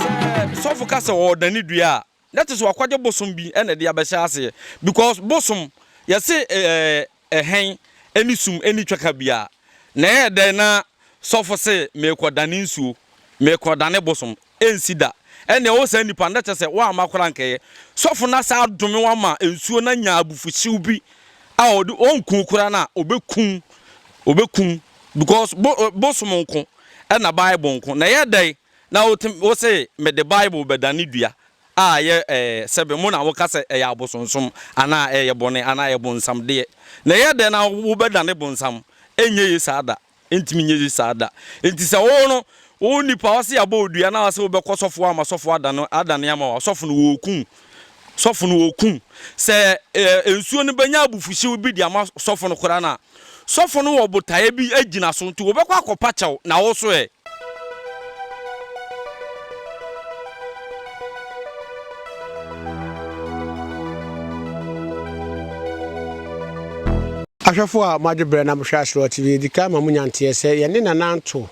Sɛ sɔfo ka sɛ ɔredane dua a, Na te sɛ wakwagye bosom bi na ɛde abɛhyɛ aseɛ because bosom yɛse ɛɛ ɛhɛn ɛne sum ɛne twaka bia na ɛyɛ dɛn na sɔfo se meekɔ dane nsuo meekɔ dane bosom ɛnsi da ɛnea ɔwɔ saa nipa na kyɛ sɛ woamma koraa nkɛyɛ sɔfo na saa adome wama nsuo na nya abufuhyew bi a ɔde ɔnku koraa na ɔbɛkum ɔbɛkum because bo bosom nko ɛna bible nko na ɛyɛ dɛn Na wotumi, wose mede Bible bɛdane dua a ɛyɛ ɛɛ sɛbe mo na woka sɛ ɛyɛ abosonsom anaa ɛyɛ bɔne anaa ɛyɛ bonsam deɛ. Na ɛyɛ dɛn na wobɛdane bonsam? Ɛnyɛ ye saa da. Ɛntumi nyɛ ye saa da. Enti sɛ wo no, wo nipa ɔse yɛabɔ wo dua na ɔse wobɛkɔ sɔfo hɔ ama sɔfo adane adane ama wo a, ɔsɔfo no wɔɔku wo. sɔfo no okum. Sɛ ɛɛ nsuo no bɛnya abufuhyew bi de ama sɔfo no koraa no a, sɔfo no wɔ botaeɛ bi gyina so nti wɔbɛkɔ akɔpa kyɛw na wɔso ɛ. Ahwɛfo a moagye berɛ na mohwɛ Aserewaa TV, yɛdi kan ma monya nteɛ sɛ yɛne Nana Antoh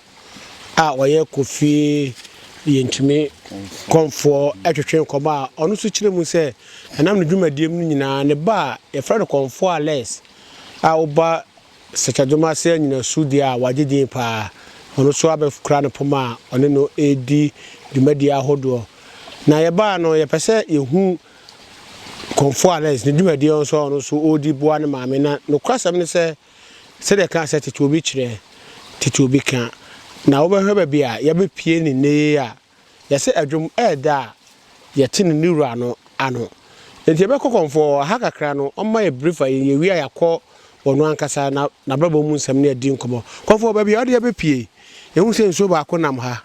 a ɔyɛ Kofi Yentumi Kɔmfoɔ twetwe nkɔmmɔ a ɔno nso kyerɛ mu sɛ ɛnam ne dwumadie mu no nyinaa ne ba a yɛfrɛ no Kɔmfoɔ Alex a woba Sɛkyɛdom ase anyinasu deɛ a wagye din paa ɔno nso abɛkura ne poma a ɔne no redi dwumadie ahodoɔ na yɛbaa no yɛpɛ sɛ yɛhu Kɔmfoɔ Alex ne dwumadie nso a ɔno nso ɔredi boa ne maame na nokorasɛm ne sɛ Sɛdeɛ ɛkaa sɛ tete obi kyerɛ, tete obi ka. Na wobɛhwɛ baabi a yɛabɛpue ne nnɛ yei a, yɛse ɛdwom ɛɛda a yɛte no ne wura no ano. Enti yɛbɛkɔ kɔmfɔɔ, ɛha kakra no ɔmma yɛ brief a yɛwie a yɛakɔ ɔno ankasa n'abrabɔ mu nsɛm ne adi nkɔmmɔ. Kɔmfɔɔ baabi a wode yɛabɛpue yi, yɛhu sɛ nsuo baako nam ha,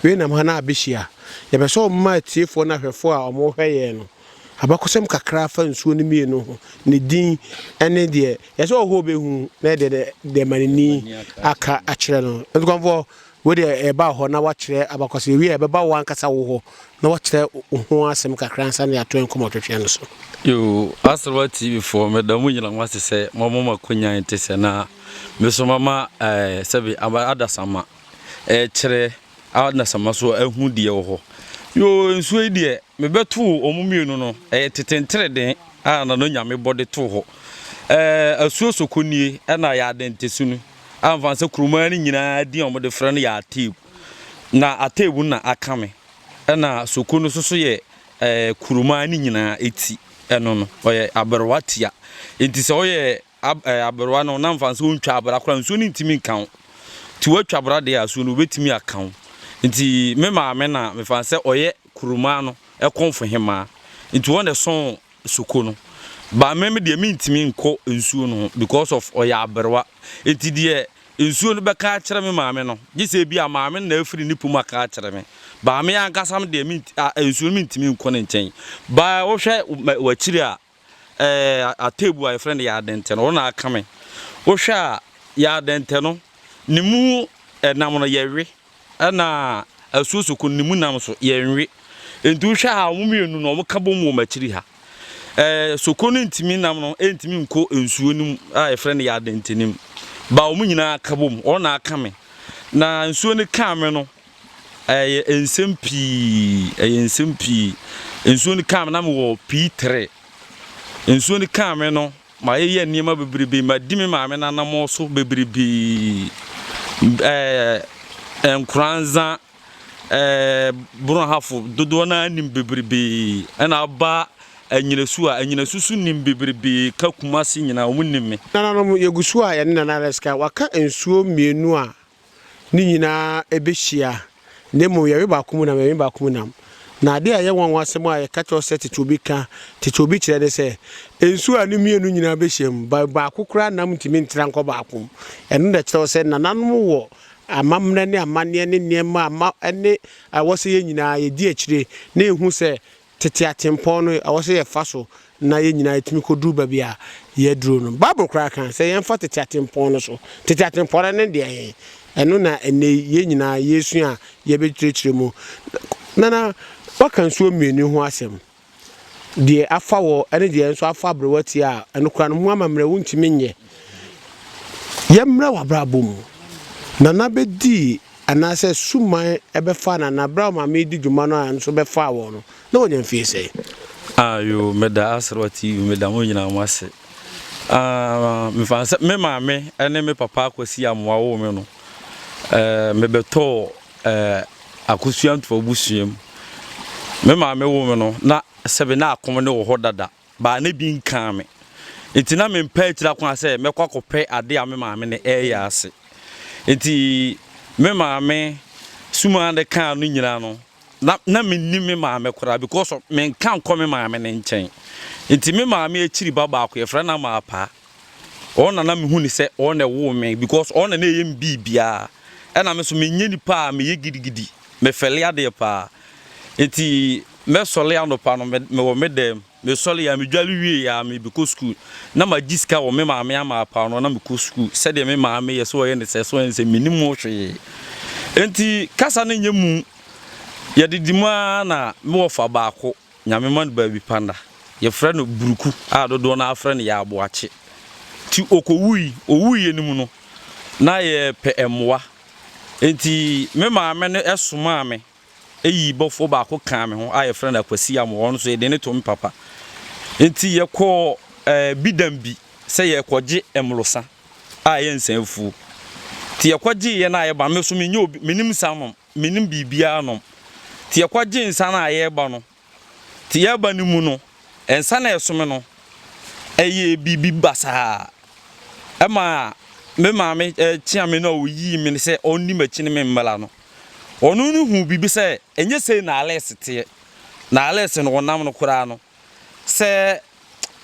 wei nam ha na abɛhyia. Yɛpɛ sɛ woma atiefoɔ ne ahwɛfoɔ a wɔhwɛ yɛn no Abakɔsɛm kakra fa nsuo no mmienu ho, ne din ne deɛ ɛsɛ sɛ ɔhɔ bɛhu na ɛdeɛ dɛ deɛ ma n'ani aka akyerɛ no. Ntukwamfoɔ, wei deɛ ɛba hɔ na wakyerɛ abakɔsɛm, yɛwie a ɛbɛba wo ankasa wo hɔ na wakyerɛ wo ho asɛm kakra ansa na yɛato nkɔmmɔtwetweɛ no so. Yoo, Aserwa TV foɔ, meda mo nyina mo ase sɛ moama mo akonya yi te sɛ, na me nso mama ɛɛ sɛbe aba adasamma ɛɛkyerɛ Adasamma so ahu deɛ ɛwɔ hɔ. Yoo, nsuo yi deɛ, mebɛtoo wɔn mmienu no, ɛyɛ tete ntereden a na no Nyame bɔ de too hɔ. Ɛɛ, asuo soko nie, ɛna Yaadɛntɛsu no, a mfa nsɛ kuromaa no nyinaa din a wɔde frɛ no yɛ Ateeb. Na Ateeb no na aka me, ɛna soko no soso yɛ ɛɛ kuromaa no nyinaa ti, ɛno no, ɔyɛ aberewa tia. Enti sɛ ɔyɛ. Ab ɛɛ aberewa no na mfa sɛ ɔntwa abra koraa nsuo no ntumi nka wo. Nti woatwa abra deɛ a asuo no wobɛtumi aka wo. Nti me maame na mefa sɛ ɔyɛ kuromaa no kɔmfo hemaa. Nti wɔn na ɛsɔn soko no. But me me deɛ mentumi nkɔ nsuo no ho because of ɔyɛ aberewa. Nti deɛ nsuo no bɛka akyerɛ me maame no gye sɛ ebia maame no na afiri ne pɔ mu aka akyerɛ me. But me ankasa me deɛ ment ah nsuo no mentumi nkɔ ne nkyɛn. But wohwɛ wɔ akyiri a ɛɛ ateebu a yɛfrɛ no yardɛntɛ no, ɔno na aka me. Wohwɛ a yardɛntɛ no, ne mu nam no yɛwe, ɛna asuosoko no ne mu nam nso yɛnwe. Nti wohwɛ a wɔn mmienu no wɔka bom wɔ m'akyiri ha. Ɛɛ soko no ntumi nam no ntumi nkɔ nsuo no mu a yɛfrɛ no yardɛntɛ no mu. Ba wɔn nyinaa ka bom, ɔno na aka me. Na nsuo no kaa me no. Ɛyɛ nsɛm pii, ɛyɛ nsɛm pii. Nsuo no kaa me na mewɔ P3. Nsuo no kaa me no, mayeyɛ nneɛma bebrebe, madi me maame n'anammɔn so bebrebe. Ɛɛ eh, nkoranza, ɛɛ eh, borɔhafo dodoɔ no ara nim bebrebe. Ɛna aba anyinasu a anyinasu so nim bebrebe ka kumase nyinaa, wɔn nim me. Nananom, yɛgu so a yɛne Nana Reska waka nsuo mmienu a no nyinaa bɛhyia, na mmom yɛwe baako mu nam, yɛwe baako mu nam. Na adeɛ a ɛyɛ nwanwa asɛm a yɛka kyerɛ wo sɛ tete obi ka, tete obi kyerɛ ne sɛ, nsuo a ne mmienu nyinaa bɛhyiam, ba, baako koraa nam ntumi ntra nkɔ baako mu. Ɛno na ɛkyerɛ wo sɛ nananom wɔ amammerɛ ne amanneɛ ne nneɛma a ma, ne a ɛwɔ sɛ yɛn nyinaa yɛdi akyire na yɛhu sɛ tete atempɔn no ɛwɔ sɛ yɛfa so na yɛn nyinaa yɛtumi kɔduru baabi a yɛaduro no. Bible koraa ka sɛ yɛmfa tete atempɔn no so. Tete atempɔn no ne deɛ he? Ɛno na ɛnnɛ yi yɛn nyinaa yɛresua a yɛbɛkyerɛkyerɛ mu. Nana, woaka nsuo mmienu ho asɛm, deɛ afa wɔ ne deɛ nso afa aberewa ti a ɛno koraa no ho amammerɛ wontumi nyɛ. Yɛmmrɛ w'abrabɔ mu. Nana bɛdii Anaasɛ Suman bɛfaa no anaa? Berɛ a ɔmaame redi dwuma no ara nso bɛfaa wɔn no, na wɔnya mfeɛ sɛn? Ah, yoo, meda Aserewa TV, meda mo nyinaa mo ase. Ah, mefa no sɛ me maame ne me papa Akwasi Amoah woo me no, eh, mebɛtɔɔ eh, Akosua Ntoa abusua mu. Me maame woo me no, na sɛbe na akom ne wɔ hɔ dada. Ba no bi nkaa me. Enti na mempɛ akyiri akwan sɛ mɛkɔ akɔpɛ ade a me maame no reyɛ ase. Enti me maame sumaa no kaa no nyinaa no, na na minnim me maame koraa because menka nkɔ me maame no nkyɛn. Enti me maame akyiri ba baako, yɛfrɛ no Amaapaa. Ɔno na na mehu no sɛ ɔno na ɛwoo me because ɔno na na ɛyɛ me biribiara. Ɛna me nso menyɛ nipa a meyɛ gidigidi, mefɛle adeɛ paa. Nti mɛsɔre anɔpa no mewɔ me dɛm, mesɔre a medware wie a mebɛkɔ sukuu. Na magye sika wɔ me maame ama paa no na mekɔ sukuu sɛdeɛ me maame yɛ sɛ ɔyɛ ne sɛ sɛ ɔyɛ ne sɛ mennim ho hwee. Nti kasa no nyɛ mu, yɛdidi mu ara na mewɔ fa baako. Nyame ma no baabi pa nna. Yɛfrɛ no Buruku a dodoɔ no ara frɛ no Yaaboakye. Nti ɔkɔwui, ɔwuiɛ no mu no, na yɛrepɛ mmoa. Nti me maame no somaa me yii bɔfoɔ baako kaa me ho a yɛfrɛ no Akwasi Amoah, ɔno nso yɛde no too me papa. Nti yɛkɔɔ Bidam bi sɛ yɛrekɔgye mmorosa a ɛyɛ nsa afuo. Nti yɛkɔgyeeɛ no a yɛba no, me nso mennyɛ obi, mennim nsa nom. Mennim biribiara nom. Nti yɛkɔgye nsa no a yɛreba no, nti yɛreba no mu no, nsa no a ɛsome no, ɛyɛɛ biribi basaa. Ɛma me maame kyeaa me na ɔyii me sɛ ɔnni m'akyi ne me mmra no. Ɔno no huu biribi sɛ ɛnyɛ sei na Alex teɛ. Na Alex no ɔnam no koraa no, sɛ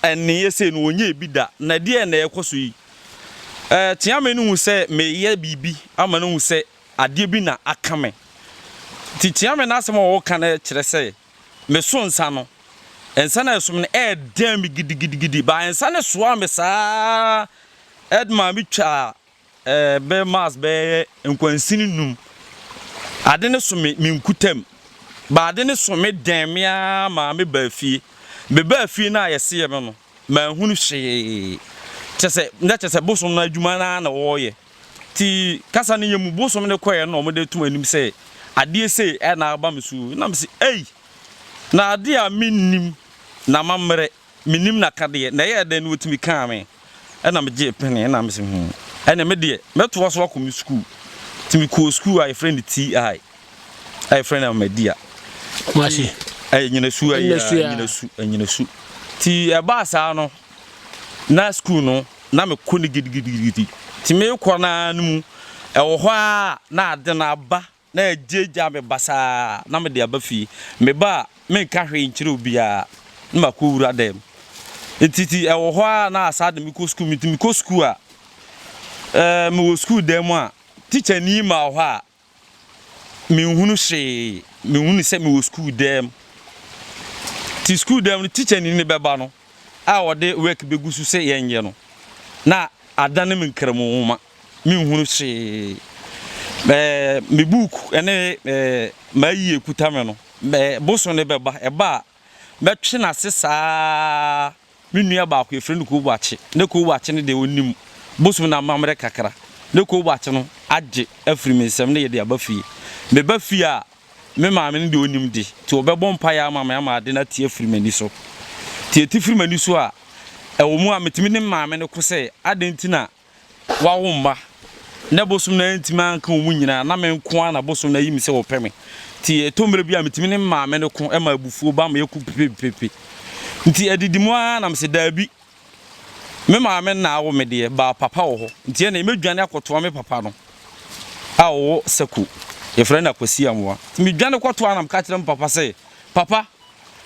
ɛnneeɛ sei no ɔnyɛɛ bi da. Na ɛdeɛn na ɛrekɔ so yi? Kyeame no hu sɛ mereyɛ biribi ama no ahu sɛ Adeɛ bi na aka me. Nti Kyeame n'asɛm a ɔreka no kyerɛ sɛ meso nsa no, nsa no a ɛso me no ɛredɛn me gidigidigidi. But nsa no soaa me saa ara de maa metwaa eh, bɛyɛ miles bɛyɛ nkwansini nnum. Ade no so me me nkutam. But ade no so me dɛn me ara maa mebaa fie. Mebaa fie no a yɛseɛ me no, manhunu hwee. Kyerɛ sɛ, na kyerɛ sɛ bosom no adwuma no ara na wɔreyɛ. Nti kasa no yɛ mu bosom no kɔɛ na wɔde to m'anim sɛ adeɛ sei na aba me so o, na mese ei, na adeɛ a mennim n'amammerɛ, mennim n'akadeɛ, na ɛyɛɛ dɛn na wɔtumi kaa me, ɛna megyee pene, ɛna mese hmm, ɛnneɛ me deɛ mɛtoa so akɔ me sukuu, nti mekɔɔ sukuu a yɛfrɛ no TI, a yɛfrɛ no Ahmadiyya, nti ɛyɛ Nyinasu, ɛyɛ Nyinasu, Nyinasu, nti ɛbaa saa no, Na sukuu no, na mekɔ no gidigidigidi. Enti merekɔ no ara no mu, ɛwɔ hɔ ara na ade no aba na agyaagyaa me basaa na mede aba fie. Meba a, menka hwee nkyerɛ obiara na makɔwura dan mu. Enti ti ɛwɔ hɔ ara na saa de mekɔ sukuu. Enti mekɔ sukuu a, ɛɛ mewɔ sukuu dan mu a, tikyani ma wɔ hɔ a, Minhunu hwee. Mihu no sɛ mewɔ sukuu dan mu. Te sukuu dan mu no, tikyani no bɛba no a ɔde work begu so sɛ yɛnyɛ no na adane me nkramu nwoma. Minhunu hwee. Ɛɛ, me book ne ɛɛ m'ayi ekuta me no, ɛɛ bosom no bɛba. Ɛba a, mɛtwe no ase saa. Me nua baako yɛfrɛ no Kuo Boakye. Na Kuo Boakye no deɛ ɔnnim bosom no amammerɛ kakra. Na Kuo Boakye no agye afiri me nsam na yɛde aba fie. Meba fie a, me maame no deɛ ɔnnim de, nti ɔbɛbɔ mpaeɛ ama me ama ade no ate afiri m'ani so. Nti ɛte firi m'ani so a, ɛwɔ mu a metumi ne me maame no ko sɛ, adɛn nti na Wawo mma, na bosom no antumi anka wɔn nyinaa, na me nko ara na bosom no ayi me sɛ ɔpɛ me. Enti ɛtɔ mmere bi a mitumi ne me maame no ko ma abufuo ba ma yɛko pepepepe. Enti adidi mu ara na mese, Dabi, me maame na awo me deɛ, but papa wɔ hɔ. Enti ɛnna mɛdwane akɔtoa me papa no a ɔwɔ Sako, yɛfrɛ no Akwasi Amoa. Enti medwane kɔtoa na meka kyerɛ me papa sɛ, Papa,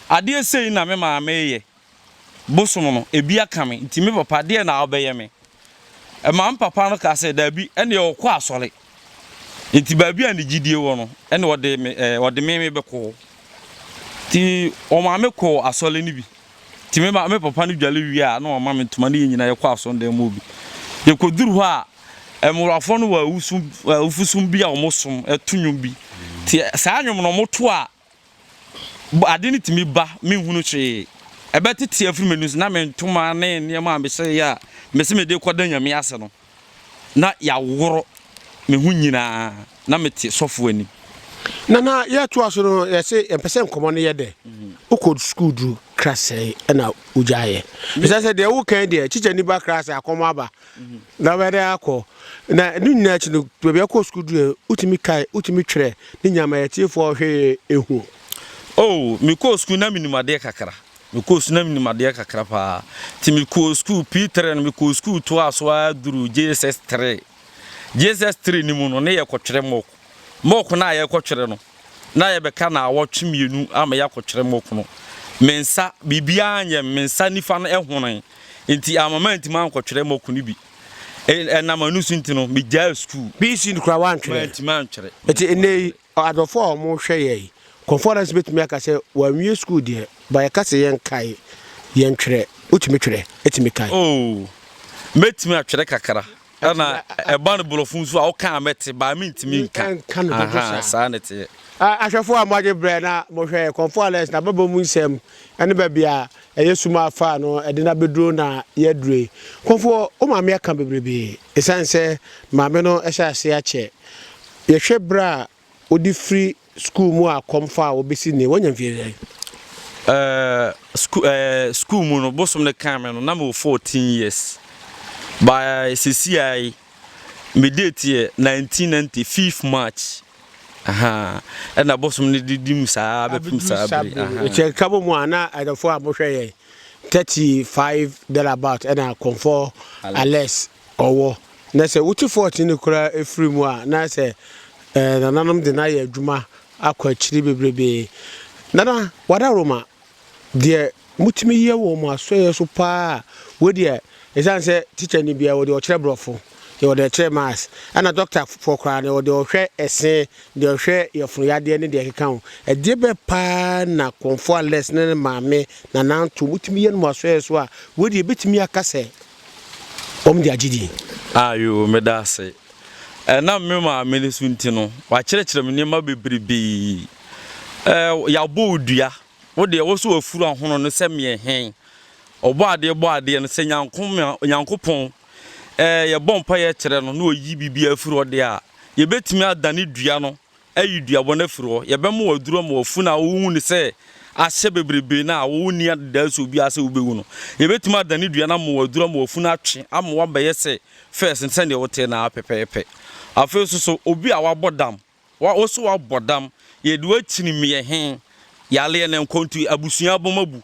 adeɛ sei na me maame reyɛ. bosom no, ebi aka me, nti me papa deɛn na wobɛyɛ me? Maame papa no kaa sɛ, daabi, ɛnneɛ ɔkɔ asɔre. Nti baabi a ne gyidie wɔ no, ɛnna ɔde me ɛɛ eh, ɔde me me bɛkɔ hɔ. Nti ɔmaa me kɔɔ asɔre no bi. Nti me ma me papa no dwale wie a, na ɔma me ntoma ne yɛn nyinaa yɛkɔ asɔndan mu bi. Yɛkɔduru hɔ a, mmorɔfoɔ no wɔ awusu awufosom bi a wɔsom to nnwom bi. Nti saa nnwom no wɔto a, Ade no tumi ba, menhunu hwee. Ɛbɛtete afiri m'ani so na me ntoma ne nneɛma a mehyereeɛ a mese mede rekɔda Nyame ase no, na yɛaworo me ho nyinaa na mete sɔfo anim. Nana, yɛtoa so no, yɛse yɛmpɛ sɛ nkɔmmɔ no yɛ dɛ. Wokɔ sukuu duru kra sɛn na wogyaeɛ? Ɛsɛ sɛ deɛ wokan deɛ, kyikyani ba kra sɛ akɔm aba. Na ɔbɛyɛ dɛ akɔ. Na ne nyinaa akyi no, baabi a ɔkɔɔ sukuu duruu yɛ, wotumi kae, wotumi twerɛ ne nyinaa ma atiefoɔ hwee ehu. Oh, mekɔɔ sukuu na menim adeɛ kakra. Mekɔɔ sukuu na menim adeɛ kakra pa ara. Nti mekɔɔ sukuu, P three no, mekɔɔ sukuu toaa so ara duruu JSS three. JSS three no mu no, ne yɛkɔtwerɛ mock. Mock no a yɛrekɔtwere no, na yɛbɛka naawɔtwe mmienu ama yɛakɔtwere mock no. Me nsa, biribiara anyɛ me, me nsa nifa no honee, enti amma mantumi ankɔtwere mock no bi. Ɛnam ɛno so nti no, migyaee sukuu. BC no koraa woantwere? Mantumi antwere. Enti nnɛ yi, adɔfo a wɔhwɛ yɛn conference betumi aka sɛ wɔanwie sukuu deɛ, but yɛka sɛ yɛnkae, yɛntwere. Wotumi twere? Tumi kae? Oh, mɛtumi atwere kakra. Ɛna ɛba no borɔfo nso a woka a mɛte baa mentumi nka. Nka no dodo saa. Aha, saa ne teɛ. Ahwɛfoɔ a moagye berɛ na mohwɛ Kɔmfo Alex n'ababɔ mu nsɛm ne baabi a ɛyɛ sum a afaa no de no abɛduro na yɛaduro yi. Kɔmfoɔ, wo maame aka bebrebe. Ɛsiane sɛ maame no hyɛ aseɛ akyɛ. Yɛhwɛ berɛ a Wode firi sukuu mu a kɔm faa wo bɛsi nnɛ woanya mfeɛ sɛn? Sukuu mu no bosom no kaa me no na mewɔ fourteen years but seesei ara yi me date yɛ nineteen ninety fifth March ɛna bosom no de di mu saa bɛpem saa bere yi. Kyɛ ka bɔ mu a na adɔfoɔ a mohwɛ yɛn thirty five there about ɛna kɔmfoɔ Alex Ɔwɔ. Na sɛ wokye fɔɔte no koraa firi mu a, na sɛ eh, nananom de no ayɛ adwuma akɔ akyiri bebrebe. Nana, wadaworo ma deɛ motumi yɛ wɔ mo asɔeɛ so paa a, wei deɛ, ɛsiane sɛ tikya ni biara, wɔde ɔkyerɛ borɔfo, yɛwɔ deɛ ɛkyerɛ maths, ɛna dɔktafoɔ koraa no, yɛwɔ deɛ ɔhwɛ ɛse, deɛ ɔhwɛ yɛfono yadeɛ ne deɛ ɛkeka ho. Ɛdeɛ bɛɛ paa na Kɔmfoɔ Alex ne ne maame, Nana Anto, motumi yɛ no mo asɔeɛ so a, wei deɛ, yɛbɛtumi aka sɛ wɔn de agye din. Ayo, meda ase. Ɛnam me maame no so nti no, wakyerɛkyerɛ me nneɛma bebrebe. Ɛɛ, yɛabɔ wo dua. Wo deɛ, wo so wafuru ahono no sɛ meɛ hɛn. Ɔbɔ adeɛ bɔ adeɛ no sɛ Nyankoma, Nyankopɔn. Ɛɛ, yɛbɔ mpaeɛ kyerɛ no na ɔyi biribiara firi hɔ deɛ a, yɛbɛtumi adane dua no Ayi dua bɔne afiri hɔ. Yɛbɛma wo aduru ama wafunu a wohu no sɛ ahyɛ bebrebe no a wonni anidaso biara sɛ wubewu no. Yebetumi adane dua no ama wo aduru ama wafunu atwe ama woabɛyɛ sɛ fɛs no sɛnea wotee no ara pɛpɛɛpɛ. Afei nso so, obi a wabɔ dam, wo nso woabɔ dam, yɛde wo akyini meɛ he, yareɛ ne nkɔntoyi, abusua abam abu.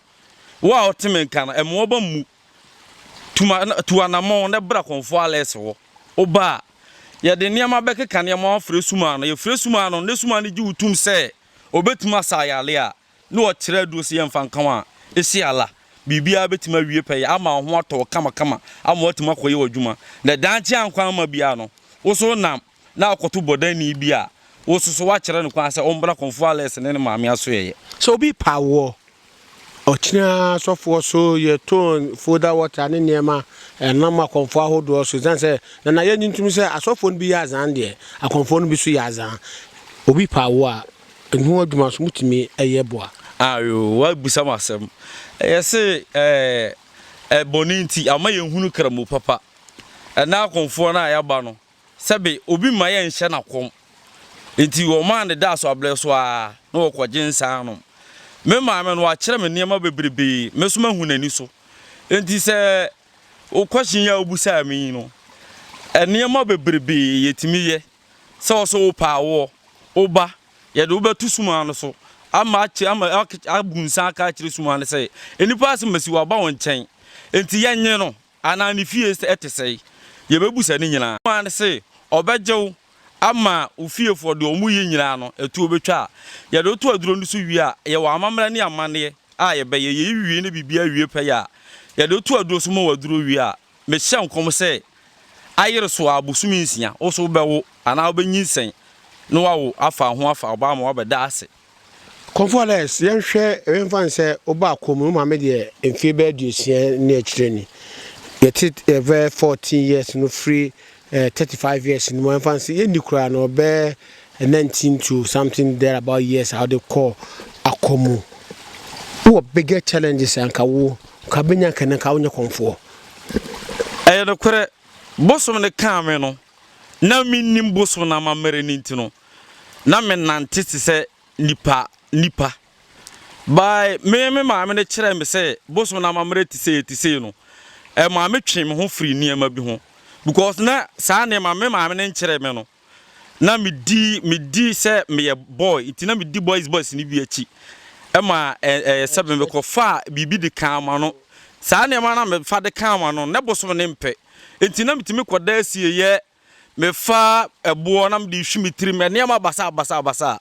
Wo a wote me nka no, mmoa bam mmu. Tu ma na tu anammɔn na bra kɔnfoɔ alɛɛse hɔ. Wo ba a, yɛde nneɛma bɛkeka nneɛma ho afrɛ sum ano. Yɛfrɛ sum ano no na sum ano gye wo tom sɛ ɔbɛtumi asa ayare a na ɔkyerɛ aduro sɛ yɛmfa nka wo a, ese Allah, biribiara bɛtumi awie pɛyɛ ama wo ho atɔ wo kamakama ama woatumi akɔyɛ w'adwuma. Na daakye ankɔ amma biara no, wo so wonam. na akɔto bɔdani bi a wosusuw akyerɛ no kwan sɛ ɔmbra Kɔmfoɔ Alex ne ne maame asoɛeɛ. Sɛ obi pa woɔ, ɔkyena asɔfoɔ so yɛ ton, foda water ne nneɛma nam akɔmfoɔ ahodoɔ so. Ɛsiane sɛ Nana yɛ ntintim sɛ asɔfoɔ no bi yɛ azaan deɛ, akɔmfoɔ no bi nso yɛ azaan. Obi pa woɔ a, ɛho adwuma nso motumi yɛ boa. Ayo, woabisa me asɛm. Yɛse ɛɛ bɔne nti ama yɛnhunu Kramu papa. Ɛnnɛ akɔmfoɔ no a yɛaba no, Sɛbe obi mma yɛnhyɛ no akɔm, enti wɔmaa no daa so abrɛ so ara na wɔkɔgye nsa nom. Me maame no, wakyerɛ me nneɛma bebrebe, me nso mahu n'ani so. Enti sɛ wo question yi a wobisaa me yi no, nneɛma bebrebe yɛtumi yɛ, sɛ wo nso wopɛ a woɔ, woba, yɛde wo bɛto sumaa no so ama akyɛ, ama abu nsa aka akyerɛ sumaa no sɛ, nnipa asɛm asi, waba wo nkyɛn, enti yɛnnye no. Anaa ne fie sɛ ɛte sɛn? Yɛbɛbu sɛ ne nyinaa. Ɔmaa no se ɔbɛgye wo ama wo fiefoɔ deɛ wɔn yɛ nyinaa no, ɛtuo bɛtwa a yɛde wo to aduro no so wie a, yɛwɔ amammerɛ ne amanneɛ a yɛbɛyɛ, yei wie na biribiara wie pɛyɛ a, yɛde wo to aduro so ma waduro wie a, mehyɛ nkɔm sɛ ayere so ara bosome nsia, wo nso wobɛwo anaa wobɛnyinsɛn na wawo afa ho afa wo ba ama wabɛda ase. Kɔmfoɔ Alex, yɛnhwɛ, yɛmfa no sɛ wobaa akɔm no, wo maame deɛ mfeɛ bɛyɛ aduosia ne akyire ni. Yɛte ɛbɛ 14 years no firi eh, 35 years no mu, yɛmfa no sɛ yɛnni koraa no ɔbɛ 19 to something there about years a wode kɔɔ akɔm mu. Wowɔ bigger challenges a nka wo, nka bɛnya nka nka wonyɛ kɔmfoɔ. Ɛyɛ nokorɛ, bosom no kaa me no, na mennim bosom no amammerɛ no nti no, na menante te sɛ nnipa nnipa. By me me maame no kyerɛɛ me sɛ bosom no amammerɛ te sei te sei no, ɛmaa me twee me ho firi nneɛma bi ho because na saa nneɛma me maame no nkyerɛɛ me no, na medi medi sɛ meyɛ boy nti na medi boys boys no bi akyi ɛma ɛyɛ sɛ mekɔfa biribi de kaa ma no saa nneɛma na mefa de kaa ma no na bosom no mpɛ nti na metumi kɔda asieyɛ Mefa ɛboɔ na mede hwi me tirim, nneɛma basabasabasa.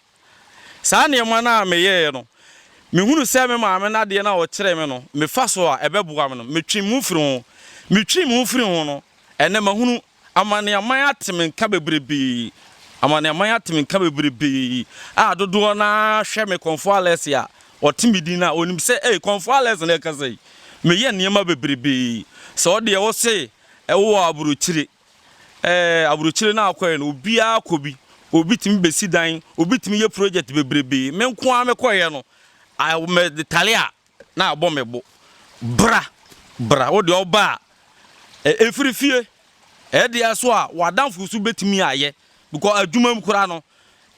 Saa nneɛma no a meyɛeɛ no, mehunu sɛ me maame no adeɛ no a ɔkyerɛɛ me no, mefa so a, ɛbɛboa me no, metwee me ho firii ho. Metwee me ho firii ho no, ɛnnɛ mahunu. Amane-aman ate me nka bebrebee. Amane-aman ate me nka bebrebee a dodoɔ no ara hwɛ me Kɔmfoɔ Alex a ɔte me din no a, ɔnim sɛ, ei, Kɔmfoɔ Alex na ɛkasa yi. Meyɛ nneɛma bebrebee. Sɛ wo deɛ, wose wowɔ aburokyire. Ɛɛ, aburokyire no a ɔkɔeɛ no, obiara kɔ bi. Obi tumi bɛsi dan, obi tumi yɛ project bebrebe. Me nko ara mekɔeɛ no, I, metale a, na abɔ me bo. Bra, bra, wo deɛ ɔba a, ɛ, ɛfiri fie. Ɛdeɛ nso a, w'adamfo nso bɛtumi ayɛ. Because adwuma mu koraa no,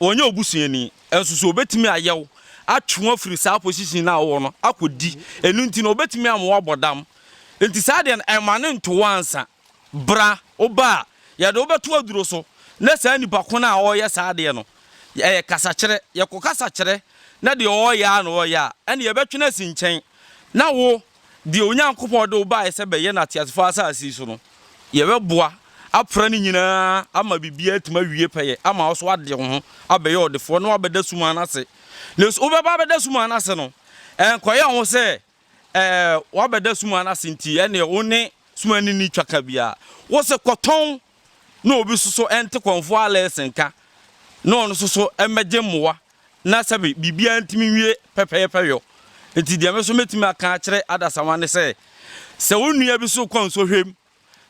ɔnyɛ wo busuani. Nso so ɔbɛtumi ayɛ wo, atwe wo afiri saa position no a wowɔ no akɔdi. Ɛno nti no, ɔbɛtumi ama woabɔ dam. Nti saa deɛ no, mma no nto wo ansa. Bra, woba a, yɛde wo bɛto aduro so, na saa nipa ko no a ɔreyɛ saa adeɛ no, ɛyɛ kasakyerɛ. Yɛkɔkasa kyerɛ, na deɛ ɔreyɛ ara na ɔreyɛ a, ɛnneɛ yɛbɛtwe no asi nkyɛn, na wo, deɛ Onyankopɔn de wo baeɛ sɛ bɛyɛ no ateasefoɔ asase yi so no, yɛbɛboa apra ne nyinaa ama biribiara atumi awie pɛyɛ ama wo so ade wo ho abɛyɛ ɔdefoɔ na woabɛda sumaa no ase. Na wobɛba abɛda sumaa no ase no, ɛnkɔyɛ wo ho sɛ Ɛ wabɛda sumaa no ase nti, ɛnneɛ wo ne sumaa no nni twaka biara. Wo se kɔtɔn na obi nso so nte kɔmfoɔ alɛɛse nka na ɔno nso so mmɛgye mmoa na sɛbe biribiara ntumi nwie pɛpɛɛpɛ yɔ. Nti deɛ me nso mɛtumi aka akyerɛ adasamma ne sɛ, sɛ wo nua bi so kɔ nsɔhwɛm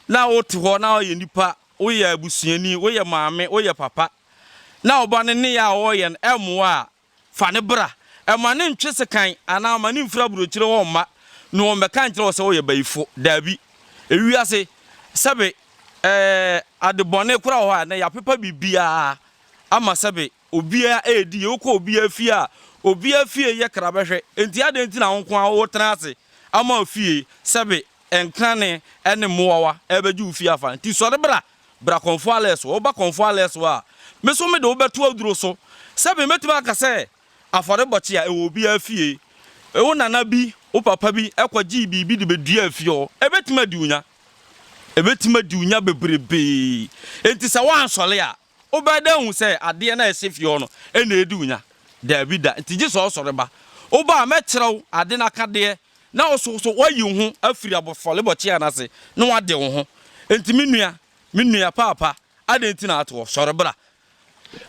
na wote hɔ na woyɛ nipa, woyɛ abusuani, woyɛ maame, woyɛ papa, na wo ba no nneyɛɛ a ɔreyɛ no ɛmmoa a, Fa no bra. Mma no ntwe sekan anaa mma no mfiri aburokyire hɔ mma, na wɔmmɛka nkyerɛ wo sɛ woyɛ bayifo. Dabi. Ewiase, sɛbe ɛɛ, ade bɔne kora wɔ hɔ a, ɛnnɛ yɛapepa biribiara ama sɛbe obiara redi yie. Wokɔ obiara fie a, obiara fie yɛ krabɛhwɛ. Enti adɛn nti na wo nko ara woretena ase ama afie sɛbe nkane ne mmoawa rebɛgye wo fie afa? Enti sɔre bra. Bra Kɔmfoɔ Alesso, woba Kɔmfoɔ Alesso a, me nso mede wo bɛto aduro so. Sɛbe mɛtumi aka sɛ afɔrebɔkye a ɛwɔ obiara fie, wo nana bi, wo papa bi kɔgyee biribi de bɛduaa fie hɔ, ɛbɛtumi adi wo nya. Ɛbɛtumi adi wo nya bebrebe. Enti sɛ woansɔre a, wobɛyɛ dɛn ahu sɛ adeɛ no a ɛhyɛ fie hɔ no na ɛredi wo nya? Daabi da. Enti gye sɛ wosɔre ba. Woba a, mɛkyerɛ wo ade no akadeɛ Na wo so so woayi wo ho afiri abɔfɔlebɔ kyea no ase na woade wo ho. Enti me nua, me nua paapa, adɛn nti na atoɔ? Sɔre bra!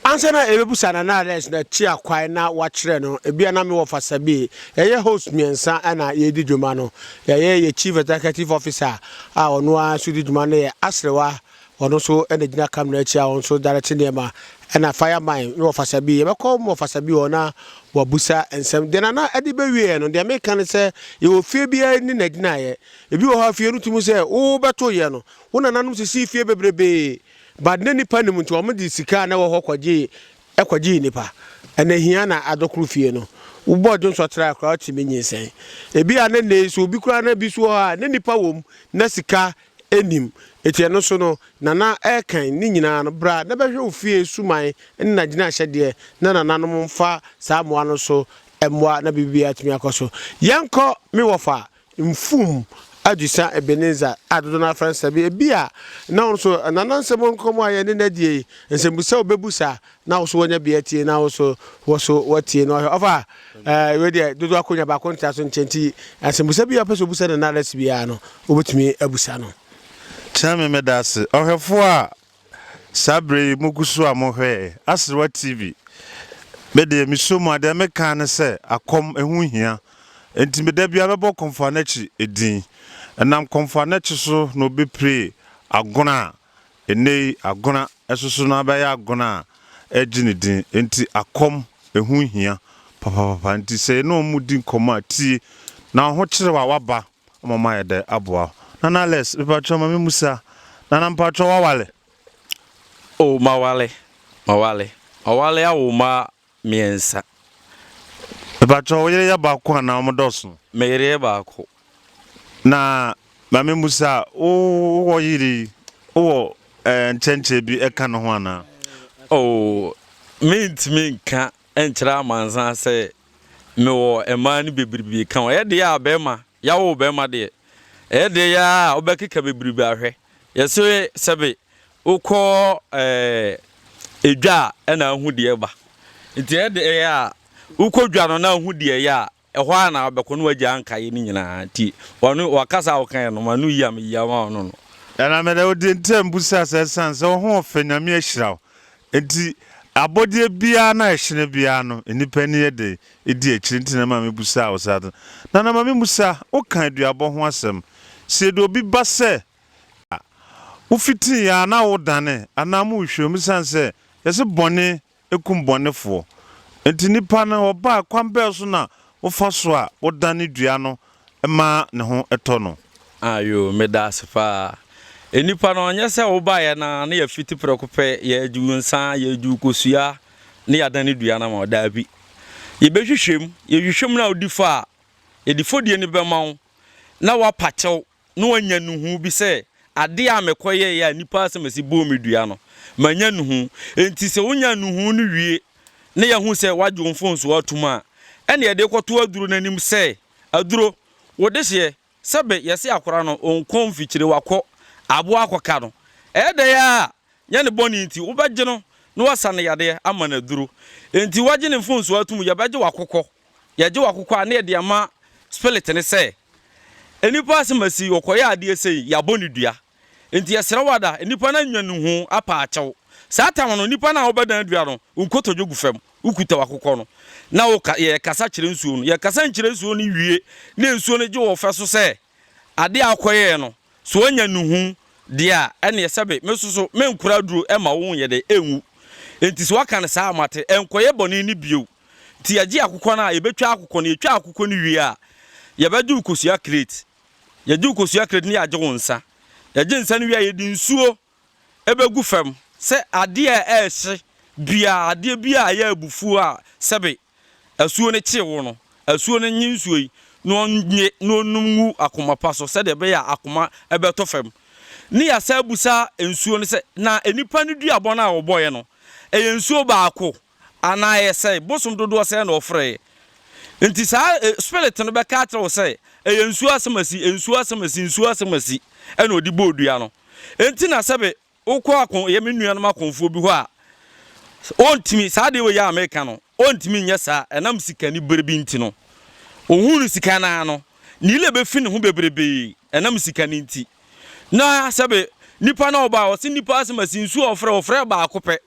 Ansa na yɛbɛbisa no anaa dɛn so na tua kwan na woakyerɛ no, ebia na mewɔ Fasabeer. Yɛyɛ hosts mmiɛnsa na yɛredi dwuma no. Yɛyɛ yɛn Chief Executive Officer a ɔno ara nso di dwuma no yɛ Asrewa Ɔno nso na gyina cam no akyi a ɔno nso direct nneɛma. Ɛna fire mine ne wɔfasa bi. Yɛbɛkɔ mo wɔfasa bi hɔ na wɔabusa nsɛm. Deɛ Nana de bɛwieɛ no, deɛ meka ne sɛ yɛwɔ fie biara ne n'agyinaeɛ. Ebi wɔ hɔ a fie no tumi sɛ wobɛtoeɛ no, wo nananom sisii fie bebrebee but na nnipa nnim nti wɔde sika a na ɛwɔ hɔ kɔgyee kɔgyee nnipa. Ɛna hia na adɔkoro fie no. Wobɔɔ dwonsɔ trae koraa wotumi nyinsɛn. Ebia ne nnɛ yi so obi koraa na bi nso wɔ hɔ a na nnipa wɔ mu na sika nnim. Enti ɛno so no, Nana ɛrekan ne nyinaa no, bra na bɛhwɛ wo fie suman ne n'agyinahyɛdeɛ na nananom mfa saa mmoa no so mmoa na biribiara atumi akɔ so. Yɛnkɔ me wɔfa, Mfum Adwisa Ebenezer a dodoɔ no ara frɛ no Sabi. Ebia na wo nso, Nana nsɛm nkɔmmɔ a yɛne no adie yi, nsɛmbusa a wobɛbusa na wo so wanya bia atie na wo so wɔ so watie na ɔhwɛ ɔfa ɛɛ wei deɛ dodo akonya baako ntra so nkyɛn ti asɛmbusa bi a ɔpɛ sɛ obusa ne narasi biara no obetumi abusa no. Kyerɛ me meda ase ɔhwɛfo a saa berɛ yi mo gu so a mo hwɛ Aserewa TV me deɛ me sɔ mu a deɛ me kan ne sɛ akɔm ɛho hia nti me da biara mɛbɔ Kɔmfoanakyi ɛdin ɛnam Kɔmfoanakyi so na obi pire agono a Nnɛyi agona ɛsoso no abɛyɛ agona a ɛgye ne din nti akɔm ɛho hia papapapa nti sɛ yɛne wɔn di nkɔmmɔ a tie na ɔhokyerɛw a waba ama wɔn ayɛ dɛ aboa wo. Nana Alex mepakyɛw ma me musa Nana mepakyɛw wawale? Oh mawale mawale mawale awo mma Mmiɛnsa. Mpakyɛw wo yere yɛ baako anaa wɔn dɔɔso? Me yere yɛ baako. Na maame mmusa wo wɔ yere yi wo wɔ eh, nkyɛnkyɛn bi ɛka ne ho anaa? Oh, mentumi nka nkyerɛ amansan sɛ mewɔ mmaa no bebrebe ka ho. Ɛyɛ deɛ a bɛrima, yɛawo bɛrima deɛ, ɛyɛ deɛ yɛ a wobɛkeka bebrebe ahwɛ. Yɛse sɛbe wokɔ dwa a ɛna ahu deɛ ɛba nti ɛde ɛyɛ a wokɔ dwa no na ahu deɛ ɛyɛ a ɛhɔ a na abɛkɔ no wagya ankaeɛ no nyinaa nti ɔno wakasa a wɔkaeɛ no ma no yi a meyi ama ɔno no. Ɛna mede wo deɛ nti a mbusaa sɛ ɛsiane sɛ wo ho ɔfɛ Nyame ahyira wo nti abɔdeɛ biara no a ɛhyene biara no nnipa ani yɛ den di akyire nti na ɛma mebusaa wo saa no na na ma me mu saa woka aduabɔ ho asɛm sɛ yɛde obi ba sɛ a, wofitii yɛn anaa wodanee anaa mo nhwɛmu esiane sɛ yɛse bɔne kum bɔnefoɔ nti. Nnipa no wɔbaa kwan bɛn so na wofa so a wodane dua no ma ne ho tɔ no? Ayoo, meda ase paa. Nnipa no nyɛ sɛ wobaeɛ no ara na yɛafiti prɛko pɛ, yɛregye wo nsa, yɛregye wo kosua na yɛadane dua no ama wo. Daabi. Yɛbɛhwehwɛ mu. Yɛhwehwɛ mu no a wodi fɔ a, yɛde fɔdie no bɛma wo na woapa kyɛw. na wanya nnuhu bi sɛ ade a mekɔyɛe a nnipa asɛm asi bɔɔ me dua no, manya nnuhu. Enti sɛ wonya nnuhu no wie na yɛahu sɛ wɔagye wo mfomsoɔ atom a, ɛnna yɛde kɔto aduro no anim sɛ, Aduro, wo dehyeɛ, sɛbe yɛse akora no ɔnkɔ mfikyire, wakɔ, aboa akɔka no. Ɛyɛ dɛn ara a, nyɛ ne bɔne nti, wobɛgye no na woasa no yadeɛ ama no aduro. Enti woagye ne mfomsoɔ atom, yɛbɛgye wo akokɔ. Yɛgye wo akokɔ a na yɛde ama spirit no sɛ nnipa asemasi ɔkɔyɛ adeɛ sei yɛabɔ no dua nti yɛsrɛ wo ada nnipa no anwa ne ho apa akyɛw saa tam no nnipa no a wobɛdan adua no wo nkotodwe gu fam wokuta w'akokɔ no na woka yɛkasa kyerɛ nsuo no yɛkasa nkyerɛ nsuo no wie na nsuo no gye wɔ fɛ so sɛ Ade a ɔkɔyɛɛ no, sɛ onya nnuhu deɛ a, ɛnneɛ sɛbe me nso so menkora aduro mma wo nyɛ dɛn? Ɛnwu. Enti sɛ woaka no saa a, mate. Ɛnkɔyɛ bɔne no bio. Enti yɛgye akokɔ no a, yɛbɛtwa akokɔ no. Yɛtwa akokɔ no wie a, yɛbɛgye wo kosua kreti. Yɛgye wo kosua kreti na yɛagye wo nsa. Yɛgye nsa no wie a, yɛde nsuo. ɛbɛgu fam sɛ adeɛ a ɛrehye biara, adeɛ biara a ɛyɛ abufuo a sɛbe asuo no kye wo no, asuo no nnye nsuo yi na ɔnnye na ɔnnum ngu akoma pa so sɛdeɛ ɛbɛyɛ a akoma bɛtɔ fam. Ne yɛasan abisa nsuo no sɛ, na nnipa no duabɔ no a wɔbɔeɛ no, ɛyɛ nsuo baako Anaa ɛyɛ sɛ bosom dodoɔ sɛn na ɔfrɛeɛ? Nti saa spirit no bɛka akyerɛ wo sɛ ɛyɛ nsuo asemasi, nsuo asemasi, nsuo asemasi ɛna ɔde bɔɔ dua no. Ɛnti na sɛbe wokɔ ako yɛ me nuanom akonfoɔ bi hɔ a, ɔntumi, saa adeɛ wei a meka no, ɔntumi nyɛ saa ɛnam sikani berɛ bi nti no. Ɔhuu no sika no ara no, ne ire bɛfi ne ho bebrebee ɛnam sika no nti. Na sɛbe nipa no a ɔbaeɛ, ɔse nipa asemasi, nsuo a ɔfrɛɛ, ɔfrɛɛ baako pɛ,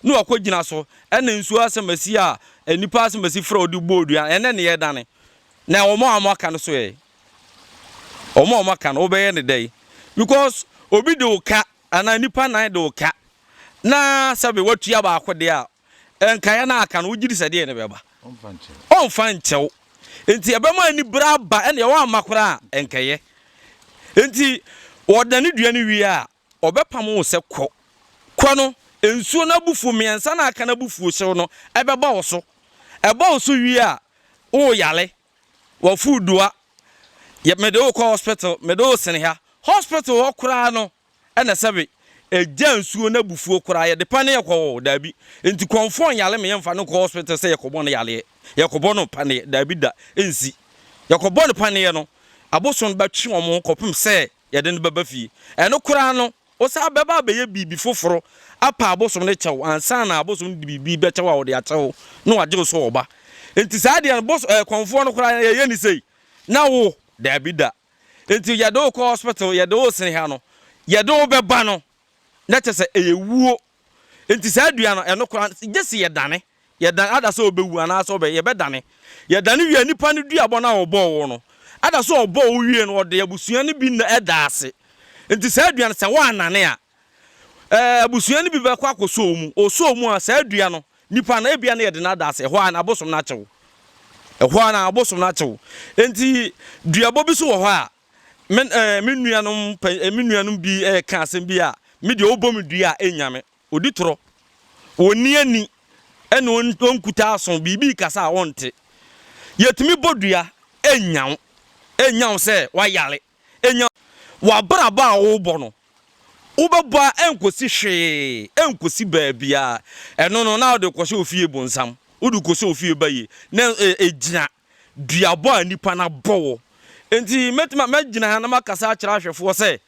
ne wakogyina so na nsuo asɛmasi a nnipa asɛmasi frɛ wɔde bɔɔ dua no, ɛnɛ ne yɛdane. Na wɔn a wɔaka no so ɛ? Wɔn a wɔaka no, wobɛyɛ ne dɛn? Because obi de wo ka anaa nnipa nan de wo ka na sɛbe watua baako deɛ a, nkaeɛ no aka no, wogye di sɛ deɛ ne bɛba? Ɔmfa nkyɛw. Nti ɛbɛma anibere aba ɛne wɔamma koraa a, nkɛyɛ. Nti wɔdane dua no wie a, Ɔbɛpamo wo sɛ, Kɔ! Kɔ no, nsuo no abufuo mmiɛnsa no a aka no abufuohyew no bɛba wo so. Ɛba wo so wie a, woreyare. W'afuo dua. Yɛ mede wo kɔ hospital, mede wo sene ha. Hospital hɔ koraa no na ɛsɛ we. Ɛgya nsuo no abufuo koraa. Yɛde paneɛ kɔ hɔ? Daabi. Enti kɔmfoɔ nyare me, yɛmfa no nkɔ hospital sɛ yɛkɔbɔ no yareɛ, yɛkɔbɔ no paneɛ. Daabi da, ɛnsi. Yɛkɔbɔ no paneɛ no, abosom no bɛtwe wɔn kɔpem sɛ Yɛde no bɛba fie. Ɛno koraa no, wosan bɛba abɛyɛ biribi foforo apa abosom no kyɛw ansa na abosom no de biribi bɛkyɛ wo a ɔde akyɛ wo na wagye wo so ɔba. Enti saa deɛ no, bos ɛɛ kɔmfoɔ no koraa yɛyɛ no sei na wo, daabi da. Enti yɛde wo kɔ hospital, yɛde wo sene ha no, yɛde wo bɛba no, na kyerɛ sɛ ɛyɛ wuo Enti saa dua no, ɛno koraa, gye sɛ yɛdane. Yɛdane, ada sɛ ɔbɛwu anaasɛ ɔbɛ, yɛbɛdane. Yɛdane wie a, nipa no duabɔ no a ɔbɔɔ wo no, ada sɛ ɔbɔɔ wo wie no, ɔde abusua no bi nna ɛda ase. Enti saa dua no, sɛ woannane a, ɛɛ, abusua no bi bɛkɔ akɔsɔ wo mu. Ɔsɔ wo mu a, saa dua no, nipa no, ebia na yɛde no ada ase. Ɛhɔ ara na abosom no akye wo. Ɛhɔ ara na abosom no akye wo. Enti duabɔ bi nso wɔ hɔ a, Me eh, me nuanom pɛ, eh, me nuanom bi eh, ka asɛm bi a, me deɛ ɔbɔ me dua a ɛnya me. Ɔdi torɔ, ɔnni ani, ɛna ɔnkuta aso, biribi kasa a ɔnte. Yɛtumi bɔ dua, ɛnya wo. Ɛnya wo sɛ wayare. Ɛnya w'abrabɔ a wobɔ no. Wobɛbɔ a ɛnkɔsi hwee, ɛnkɔsi baabiara. Ɛno no, na wode kɔhyɛ ofie bonsam. Wode kɔhyɛ ofie bayie. Na ɛgyina. Eh, duabɔ a nnipa no abɔ wo. Enti mɛtumi a mɛgyina ha na makasa akyerɛ ahwɛfoɔ sɛ,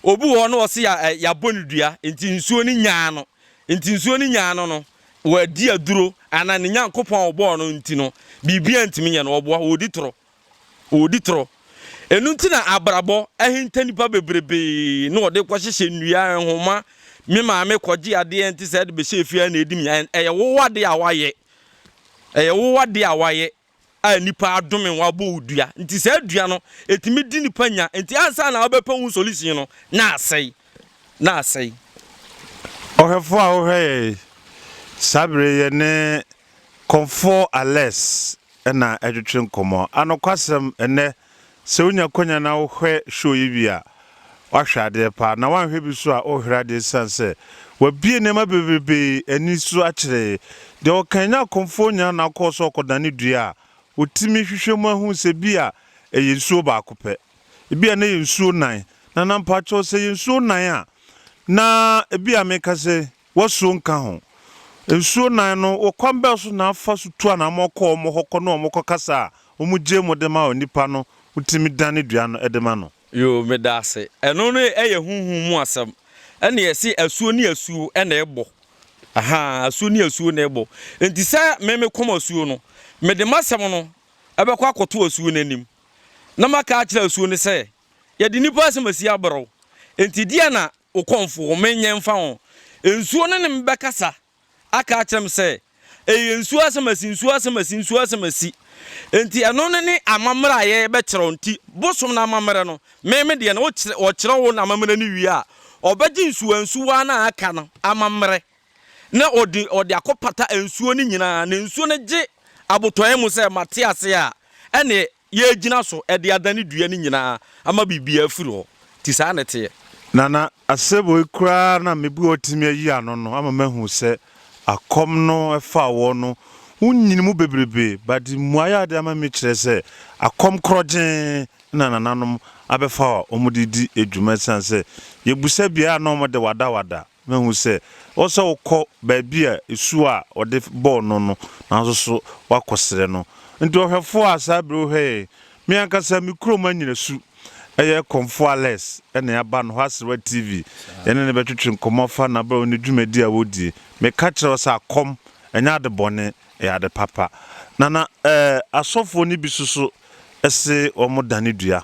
obi wɔ hɔ na ɔse yɛ, ɛ, yɛabɔ no dua, enti nsuo no nyaa no. Enti nsuo no nyaa no no, wadi aduro, anaa ne Nyankopɔn a ɔbɔɔ no nti no, biribiara ntumi nyɛ no, ɔboa, ɔredi torɔ. Ɔredi torɔ. Ɛno nti na abrabɔ ahinta nnipa bebrebe, na wɔde rekɔhyehyɛ nnua, nhoma, me maame kɔgye adeɛ nte sɛ ɛde bɛhyɛ fie a na ɛdi me, ɛyɛ wo adeɛ a woayɛ, Ɛyɛ wo adeɛ a woayɛ a nnipa adome wo abɔ wo dua nti saa dua no ɛtumi di nnipa nya nti ansa na wobɛpɛ ho solution no na asɛe na asɛe. Ɔhwɛfoɔ a wohwɛ yɛn yi, saa berɛ yi yɛne Kɔmfoɔ Alex na ɛretwetwe nkɔmmɔ. Anokwasɛm, ɛnnɛ Sɛ wonya kwanya na wohwɛ show yi bi a, woahwɛ adeɛ paa, na woanhwɛ bi nso a, worehwere adeɛ esiane sɛ wɔabue nneɛma bebrebee ani so akyerɛ yɛn. Deɛ ɔkan nyɛ akɔmfoɔ nyaa na ɔkɔɔ so ɔkɔdane dua a, wɔtumi hwehwɛ mu ahu sɛ bi a ɛyɛ nsuo baako pɛ, ebi a na ɛyɛ nsuo nan, na na mpakyɛw sɛ ɛyɛ nsuo nan a, na ebi a meka sɛn? W'asuo nka ho. Nsuo nan no, wɔ kwan bɛn so na fa so tu anammɔn kɔ wɔn hɔ kɔ ne wɔn kɔ kasa a wɔgye mu de ma onipa no, wotumi dane dua no de ma no? Yoo, meda ase. Ɛno no yɛ honhom mu asɛm. Ɛnna yɛse asuo ne asuo na ɛbɔ. Ahaa, asuo ne asuo na ɛbɔ. Enti sɛ me mekɔm asuo no, mede m'asɛm no bɛkɔ akɔto asuo no anim, na maka akyerɛ asuo no sɛ, Yɛde nnipa asɛm asi abra wo. Enti deɛn na wo kɔmfo ho menyɛ mfa ho? Nsuo no ne me bɛkasa aka akyerɛ me sɛ, Ɛyɛ nsuo asɛm asi, nsuo asɛm asi, nsuo asɛm asi. Enti ɛno no ne amammerɛ a yɛrebɛkyerɛ wo. Enti bosom no amammerɛ no, me me deɛ no, wɔkyerɛ wo n'amammerɛ no wie a, ɔbɛgye nsuwansuwa no a aka no amammerɛ, na ɔde ɔde akɔpata nsuo no nyinaa. Na nsuo no gye abotɔeɛ mu sɛ, Mate ase a, ɛnneɛ yɛagyina so de adane dua no nyinaa ama biribiara afiri hɔ. Nti saa na ɛteɛ. Na na asɛboi koraa na mebu a ɔtumi ayi ano no ama mahu sɛ akɔm no ɛfaa wɔn no ho nyini mu bebrebe, but mmuaeɛ a ɔde ama me kyerɛ sɛ akɔm korɔgyee na nananom abɛfa a wɔde redi dwuma ɛsiane sɛ yɛbusa biara a na wɔde wadawada. Mahu sɛ ɛwɔ sɛ wokɔ baabi a su a wɔde bɔɔ no no, nanso so woakɔsrɛ no? Enti ɔhwɛfo a saa bere wohwɛ yɛn, me ankasa me kurom anyina su, ɛyɛ Komfo Alex na aba no hɔ aserewa TV. Yɛne no bɛtwetwe nkɔmmɔ afa n'abrabɔ ne dwumadi a wodi. Meka kyerɛɛ no sɛ akɔm nyɛ ade bɔne, ɛyɛ ade papa. Na na asɔfoɔ no bi nso so se wɔdane dua.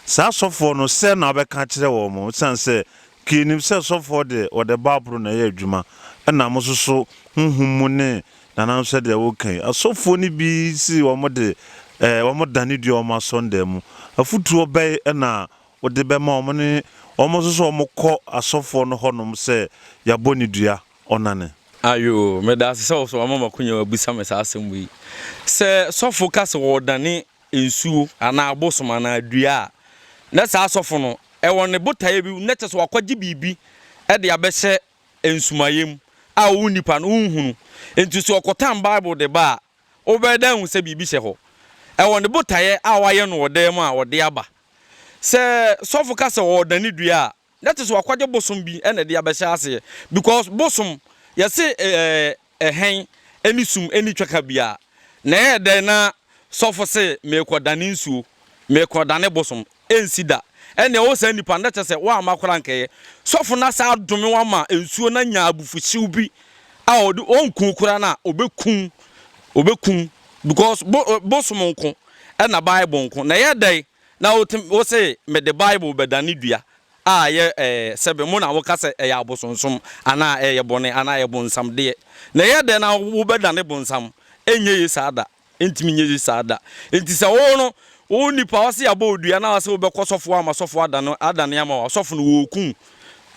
Saa asɔfoɔ no, sɛn na wobɛka akyerɛ wɔn? Esiane sɛ Pii nim sɛ sɔfoɔ deɛ wɔde Baabolo na ɛyɛ adwuma ɛna mo nso so honhom mu ne nanam sɛdeɛ wo ka yi. Asɔfoɔ no bi se wɔn de eh wɔn dane dua wɔn asɔndan mu. Afutuo bɛn ɛna wo de bɛma wɔn ne wɔn nso so wɔn kɔ asɔfoɔ no hɔnom sɛ yɛabɔ ne dua ɔnane? Ayoo, medaase sɛ wo so wama m'akonya abisa me saa asɛm wei. Sɛ sɔfo ka se wɔredane nsuo anaa abosom anaa dua a, na saa asɔfo no wɔ ne botaeɛ bi, na kyerɛ sɛ wakɔgye biribi de abɛhyɛ nsumaeɛ mu a wo nipa no wonhunu. Nti sɛ ɔkɔtan Bible de ba a, wobɛyɛ dɛ ahu sɛ biribi hyɛ hɔ. Ɛwɔ ne botaeɛ a wayɛ no wɔ dan mu a ɔde aba. Sɛ sɔfo ka sɛ ɔredane dua a, Na te sɛ wakwagye bosom bi na ɛde abɛhyɛ aseɛ because bosom yɛse ɛɛ ɛhɛn ɛne sum ɛni twɛka biara na ɛyɛ dɛn na sɔfo se meekɔ dane nsuo meekɔ dane bosom ɛnsi da ɛnea ɔwɔ saa nipa no na kyɛ sɛ woamma koraa nkɛyɛ sɔfo no asa adome wama nsuo no anya abufuhyew bi a ɔde ɔnku koraa na ɔbɛkum ɔbɛkum because bo bosom nko ɛna bible nko na ɛyɛ dɛn Na wotumi, wose mede Bible bɛdane dua a ɛyɛ ɛɛ sɛbe mo na woka sɛ ɛyɛ abosonsom anaa ɛyɛ bɔne anaa ɛyɛ bonsam deɛ. Na ɛyɛ dɛn na wobɛdane bonsam? Ɛnyɛ ye saa da. Ɛntumi nyɛ ye saa da. Enti sɛ wo no, wo nipa a ɔse abɔ wo dua na ɔse wobɛkɔ sɔfo hɔ ama sɔfo adane adane ama wo a, sɔfo no wɔɔku wo.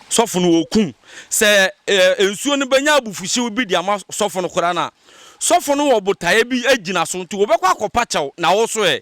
Sɔfo no wɔɔku wo. Sɛ ɛɛ nsuo no bɛnya abufuhyew bi de ama sɔfo no koraa no a, sɔfo no wɔ botaeɛ bi gyina so nti wobɛkɔ akɔpa kyɛw na wo so ɛɛ.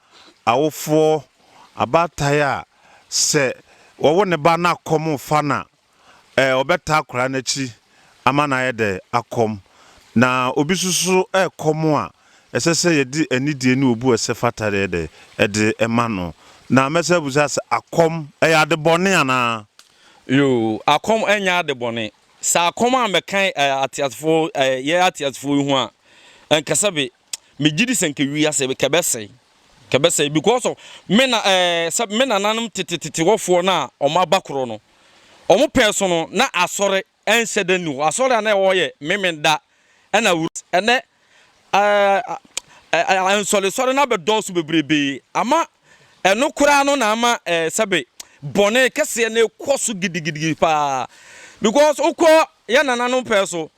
Awofoɔ, abaatan a sɛ wɔwo ne ba na kɔm refa no a, ɔbɛtaa akwadaa no akyi ama no ayɛ dɛ? Akɔm. Na obi nso so rekɔm a, ɛsɛ sɛ yɛde anidie ne obu a ɛsɛ fata yɛ dɛ? Ɛde ma no. Na mɛsan abisa sɛ, akɔm, ɛyɛ ade bɔne anaa? Yoo, akɔm nyɛ ade bɔne. Sɛ akɔm ammɛka ateasefoɔ, yɛn ateasefoɔ yi ho a, ɛnkasɛ be. me gyidi sɛ nka wiase kɛ bɛsɛe kɛ bɛsɛe because of me na ɛɛ eh, sɛ me nananom tetetete wɔfoɔ no a wɔn aba korɔ no wɔn pɛɛ so no na asɔre ɛnhyɛ da ni hɔ asɔre a na ɛwɔ yɛ memenda ɛna wura ɛnɛ ɛɛ ɛɛ nsɔlesɔre na bɛdɔɔso bebrebe ama ɛno koraa no na ama ɛɛ sɛbe bɔne kɛseɛ na ɛkɔ so gidigidigi paa because wokɔ yɛ nananom pɛɛ so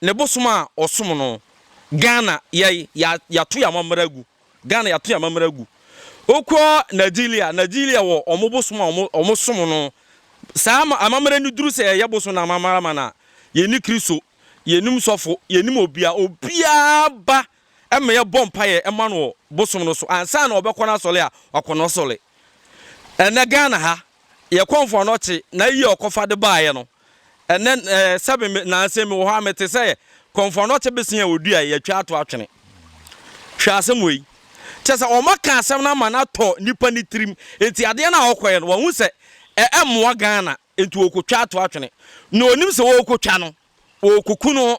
ne bosom a ɔsom no Ghana yɛi ya yato yɛ amammerɛ agu Ghana yato yɛ amammerɛ agu okɔ Nigeria Nigeria wɔ ɔmo bosom a ɔmo ɔmo som no saa ama amammerɛ no duru sɛ yɛyɛ bosom na amammerɛ ma na yɛni Kristo yɛnim sɔfo yɛnim obia obiara ba ma yɛbɔ mpaeɛ ma no wɔ bosom no so ansa na ɔbɛkɔ n'asɔre a wakɔ n'asɔre. Ɛnɛ Ghana ha yɛkɔ mfoano kye na yie a ɔkɔfa de baeɛ no ɛnɛ eh, sɛbe me nansa mi wɔ hɔ a mete sɛ kɔ mfoano kye besen a ɔdua a yɛatwa ato atwene. Hwɛ asɛm wei. Kyɛ sɛ ɔma ka asɛm no ama no atɔ nipa ne tirim. Enti adeɛ no a ɔkɔɛ no wahu sɛ ɛmmoa Ghana. Enti wɔkɔtwa ato atwene na ɔnim sɛ wɔrekɔtwa no wɔrekɔku no.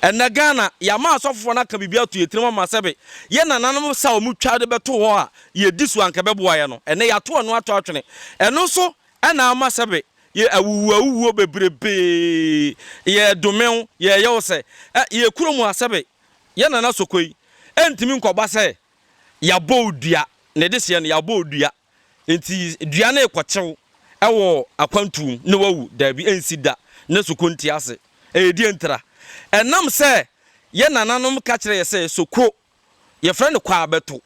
Ɛnnɛ Ghana yɛama asɔfofoɔ no aka biribi ato yɛn tirim ama sɛbe yɛn nananom sa a wɔtwa de bɛto hɔ a yɛdi so a anka ɛbɛboa yɛn no ɛnnɛ yɛato ɛno ato atwene. Ɛno nso na ama sɛbe yɛ awuwu awuwuo bebrebee, yɛredome wo, yɛreyɛ wo sɛ ɛ, yɛn kuro mu a sɛbe yɛn nana Sokoi ɛntumi nkɔba sɛ yɛabɔ wo dua, ne deseɛ no yɛabɔ wo dua. Enti dua no rekɔkyew wɔ akwantu mu na wawu? Dabi, ensi da. Ne soko nte ase. Ɛyɛ deɛn ntira? Ɛnam sɛ yɛn nananom ka kyerɛ yɛ sɛ soko, yɛfrɛ no kɔ a bɛto.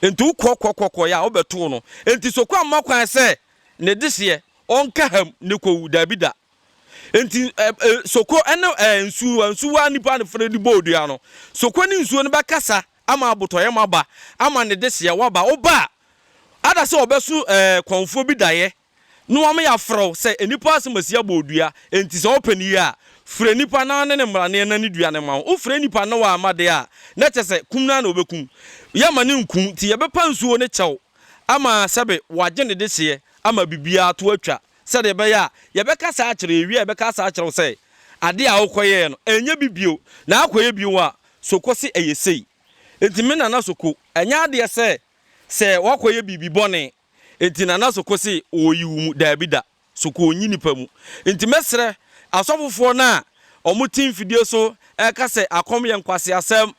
Enti wokɔkɔkɔkɔeɛ a, wobɛtoo no. Enti soko ammɔ kwan sɛ ne dehyeɛ ɔnka ha mu ne kɔwu? Dabi da. Enti ɛ, ɛ, soko ne ɛ, nsuwa, nsuwa a nnipa no frɛ de bɔɔ dua no, soko ne nsuo no bɛkasa ama abotɔyam aba, ama ne dehyeɛ waba. Woba a, Ada sɛ wɔbɛso kɔmfoɔ bi daeɛ na wɔama yɛafrɛ wo sɛ nnipa asɛm asi abɔ wo dua. Enti sɛ wopɛ no yie a, frɛ nnipa na wɔne ne mmaraneɛ na ne dua no mma wo. Wofrɛ nnipa na wɔamma deɛ a, na kyerɛ sɛ kum no ara na wɔbɛkum. Yɛmma no nku nti yɛbɛpa nsuo ne kyɛw ama sɛbe wɔagye ne dehyeɛ ama biribiara to atwa sɛdeɛ ɛbɛyɛ a yɛbɛka saa akyerɛ yɛwie a yɛbɛka saa akyerɛ wo sɛ adeɛ a wokɔyɛeɛ no ɛnyɛ bi bio na akɔyɛ bio a so kɔ se ɛyɛ sei. Enti me Nana Soko, ɛnyɛ adeɛ sɛ sɛ woakɔyɛ biribi bɔne nti Nana Soko se ɔreyi wo mu, daabi da, Soko ɔnyi nnipa mu. Nti mɛsrɛ asɔfofoɔ no a wɔte mfidie so reka sɛ akɔm yɛ nkwaseasɛm,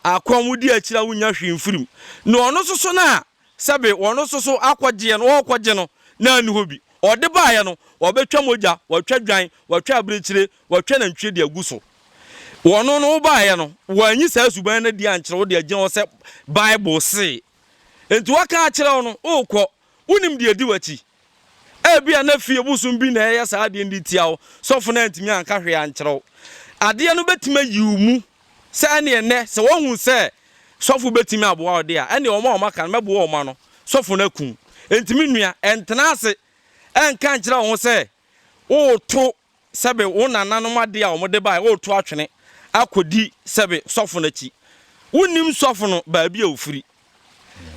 akɔm, wodi akyire a wonnya hwee mfiri mu, ne ɔno nso so no a Sɛbe wɔn nso so akɔgyeɛ no, wɔɔkɔgye no na anni hɔ bi. Ɔde baeɛ no, wɔbɛtwa mogya, wɔatwa dwan, wɔatwa abirekyire, wɔatwa nantwie de agu so. Wɔno no, wobaeɛ no, wɔanyi saa suban no adi ankyerɛ wo de agyina hɔ sɛ Bible see. Enti wɔaka akyerɛ wo no, wookɔ. Wonim deɛ ɛdi w'akyi. Ebia na fie bosom bi na ɛreyɛ saa adeɛ no de tia wo. Sɔfo no antumi anka hwee ankyerɛ wo. Adeɛ no bɛtumi ayi wo mu sɛ ɛneɛ nnɛ sɛ wɔhu sɛ sɔfo bɛtumi aboa wo deɛ a, ɛneɛ wɔn a wɔaka no mɛboa wɔn ano sɔfo no aku wo. Enti me nua, ɛntena ase ɛnka nkyerɛ wo ho sɛ woreto sɛbe wo nananom ade a wɔde bae, woretu atwene akodi sɛbe sɔfo no akyi. Wunnim sɔfo no baabi a ofiri,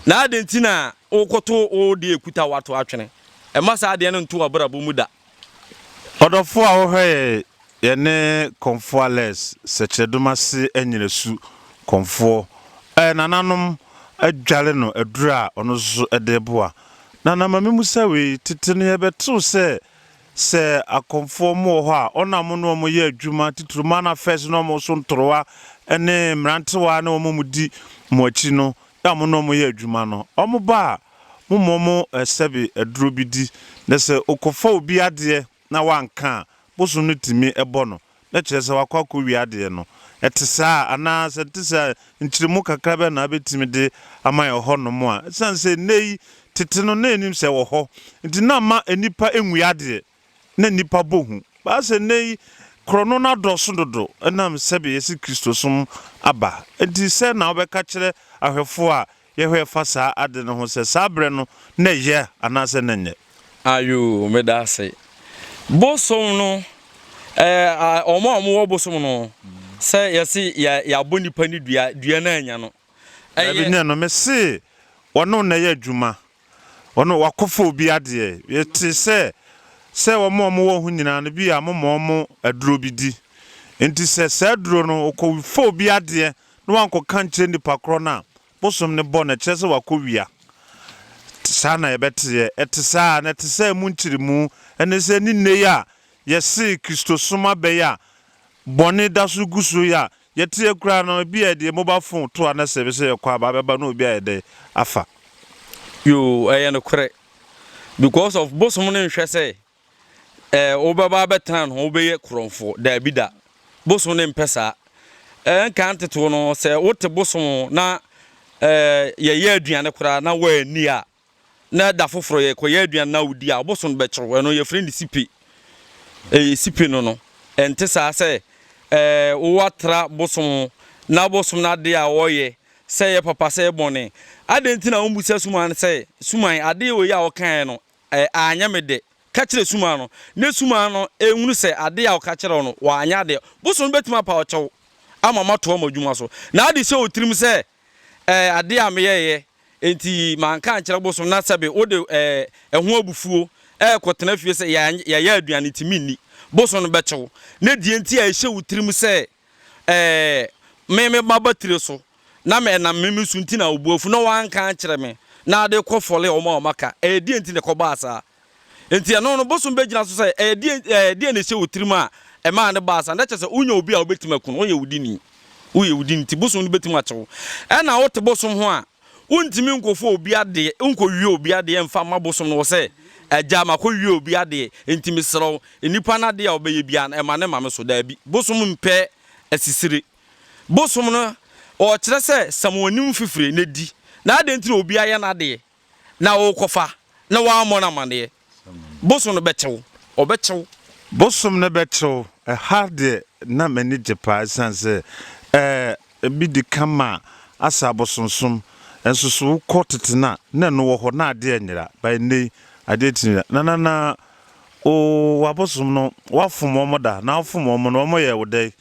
na adɛn nti na wokotow wo de ekuta wo ato atwene? Mma saa adeɛ no nto w'abrabɔ mu da. Ɔdɔfoɔ a wohwɛ yɛ yɛne Confualers sɛkyerɛdum ase anyinasu kɔmfoɔ ɛɛ nananom adware no aduru a ɔno nso de reboa nana ma me musa wei tete no yɛbɛtew sɛ Sɛ akɔmfoɔ mo wɔ hɔ a, wɔn a mo ne wɔn yɛ adwuma, titiriw man affairs ne wɔn so ntorowa ne mmerantewaa ne wɔn a wɔdi mo akyi no a mo ne wɔn yɛ adwuma no, wɔba a, momma wɔn sɛbe aduro bi di, na sɛ wɔkɔfa obi adeɛ na wanka a, bosom no tumi bɔ no. na kyerɛ sɛ wakɔ akɔwie adeɛ no. Ɛte saa anaa? Sɛ ɛte saa a, nkyerɛmu kakra bɛn na wobɛtumi de ama yɛn wɔ hɔnom a ɛsiane sɛ nnɛ yi, tete no, na yɛnim sɛ ɛwɔ hɔ, nti na amma nnipa nwia adeɛ, na nnipa bɔ hu. Baa sɛ nnɛ yi, korɔno no adɔɔso dodo ɛnam sɛbe yɛse Kristosom aba nti. Sɛn na wobɛka kyerɛ ahwɛfoɔ a Yɛhwɛ fa saa ade no ho sɛ saa berɛ no na ɛyɛ anaasɛ na ɛnyɛ. Ayoo meda ase. Bosom no eh, wɔn a wɔwɔ bosom no sɛ yɛse yɛ yɛabɔ nipa ne dua, dua no annya no. Daabi ɛyɛ. ne ɛno, mese wɔne wo na ɛyɛ adwuma. Wɔn a wɔakɔfa obi adeɛ, yɛte sɛ sɛ wɔn a wɔwɔ ho nyinaa no, bi a moma wɔn aduro bi di. Enti sɛ saa aduro no, wɔkɔfa obi adeɛ na wankɔka nkyerɛ nnipa korɔ no a, bosom no bɔ no, ɛkyerɛ sɛ wakɔwia. Saa na yɛbɛteɛ. Ɛte saa ara na ɛte sɛ mo nkyeremu ne sɛ ne nnɛ yi a yɛse Kristosom abɛyɛ a, bɔne da so gu so yɛ a, Yɛteɛ koraa no ebi a yɛde yɛn mobile phone to a na sɛ yɛpɛ sɛ yɛkɔ aba abɛba na obi ayɛ dɛ afa. Yoo ɛyɛ nokorɛ because of bosom no nhwɛ sɛ ɛɛ wobɛba abɛtena ne ho wobɛyɛ korɔmfo daabi da bosom no mpɛ saa ɛɛ nkan ntetewɔ no sɛ wote bosom na ɛɛ yɛyɛ aduane koraa na woanni a Na da foforɔ yɛkɔyɛ aduane na wodi a, woboso no bɛkyew. Ɛno yɛfrɛ no sipe. Ɛyɛ sipe no no. Ɛnte saa sɛ ɛɛ woatra bosom ho na bosom no adeɛ a wɔyɛ, sɛ ɛyɛ papa sɛ ɛyɛ bɔne. Adɛn nti na wommisa suman no sɛ, Suman, adeɛ wei a wokaeɛ no, ɛɛ anyɛ me dɛ? Ka kyerɛ suman no, na suman no nhunu sɛ adeɛ a ɔka kyerɛɛ wo no, wanyɛ adeɛ. Bosom no bɛtumi apaw kyɛw ama moatoa mo adwuma so. Na ade hyɛ wo tirim sɛ Ɛɛ, ade a meyɛeɛ enti manka ankyerɛ bosom na sɛbe wode ɛɛ, ɛho abufuo rekɔtena fie sɛ yɛanyɛ, yɛayɛ aduane enti menni. Bosom no bɛkye wo. Na deɛ enti a ɛhyɛ wo tirim sɛ ɛɛ, me, me maba tire so na me, ɛnam me, me so nti na wo bo afu na woanka ankyerɛ me na wode rekɔfɔle wɔn a wɔaka. Ɛyɛ deɛn nti na ɛkɔbaa saa? Enti ɛno no, bosom bɛgyina so sɛ, Ɛyɛ deɛn, ɛɛ, deɛn na ɛhyɛ wo tirim a ɛmaa no baa saa? Na kyerɛ sɛ, wonya obi a wobɛtumi aku no, woyɛ wo dini. Woyɛ wo dini nti, bosom no bɛtumi akye wo. Ɛna wote bosom ho a, wontumi nkɔfa obi adeɛ, wonkɔwie obi adeɛ mfa mma bosom no. Wɔ sɛ, Agya, makɔwie obi adeɛ, enti mesrɛ wo, nnipa no adeɛ a ɔbɛyɛ biara no, ɛma no ma me so. Daabi. Bosom mpɛ asisire. Bosom no, ɔkyerɛ sɛ, Sɛ mo anim fifire, na di. Na adɛn nti na obi ayɛ n'adeɛ? na worekɔfa na woammɔ no amanneɛ. Bosom no bɛkye wo. Ɔbɛkye wo. Bosom no bɛkye wo. Ɛha deɛ na m'ani gye paa ɛsiane sɛ ɛɛ ebi di kan ma asɛ abosonsom. Nso so wokɔ tete no a, na ɛno wɔ hɔ na adeɛ nyera. But ɛnnɛ yi, adeɛ tumi yera. Nana na oo w'abosom no, woafom wɔn da? Na wofom wɔn no, wɔyɛɛ wo dɛn?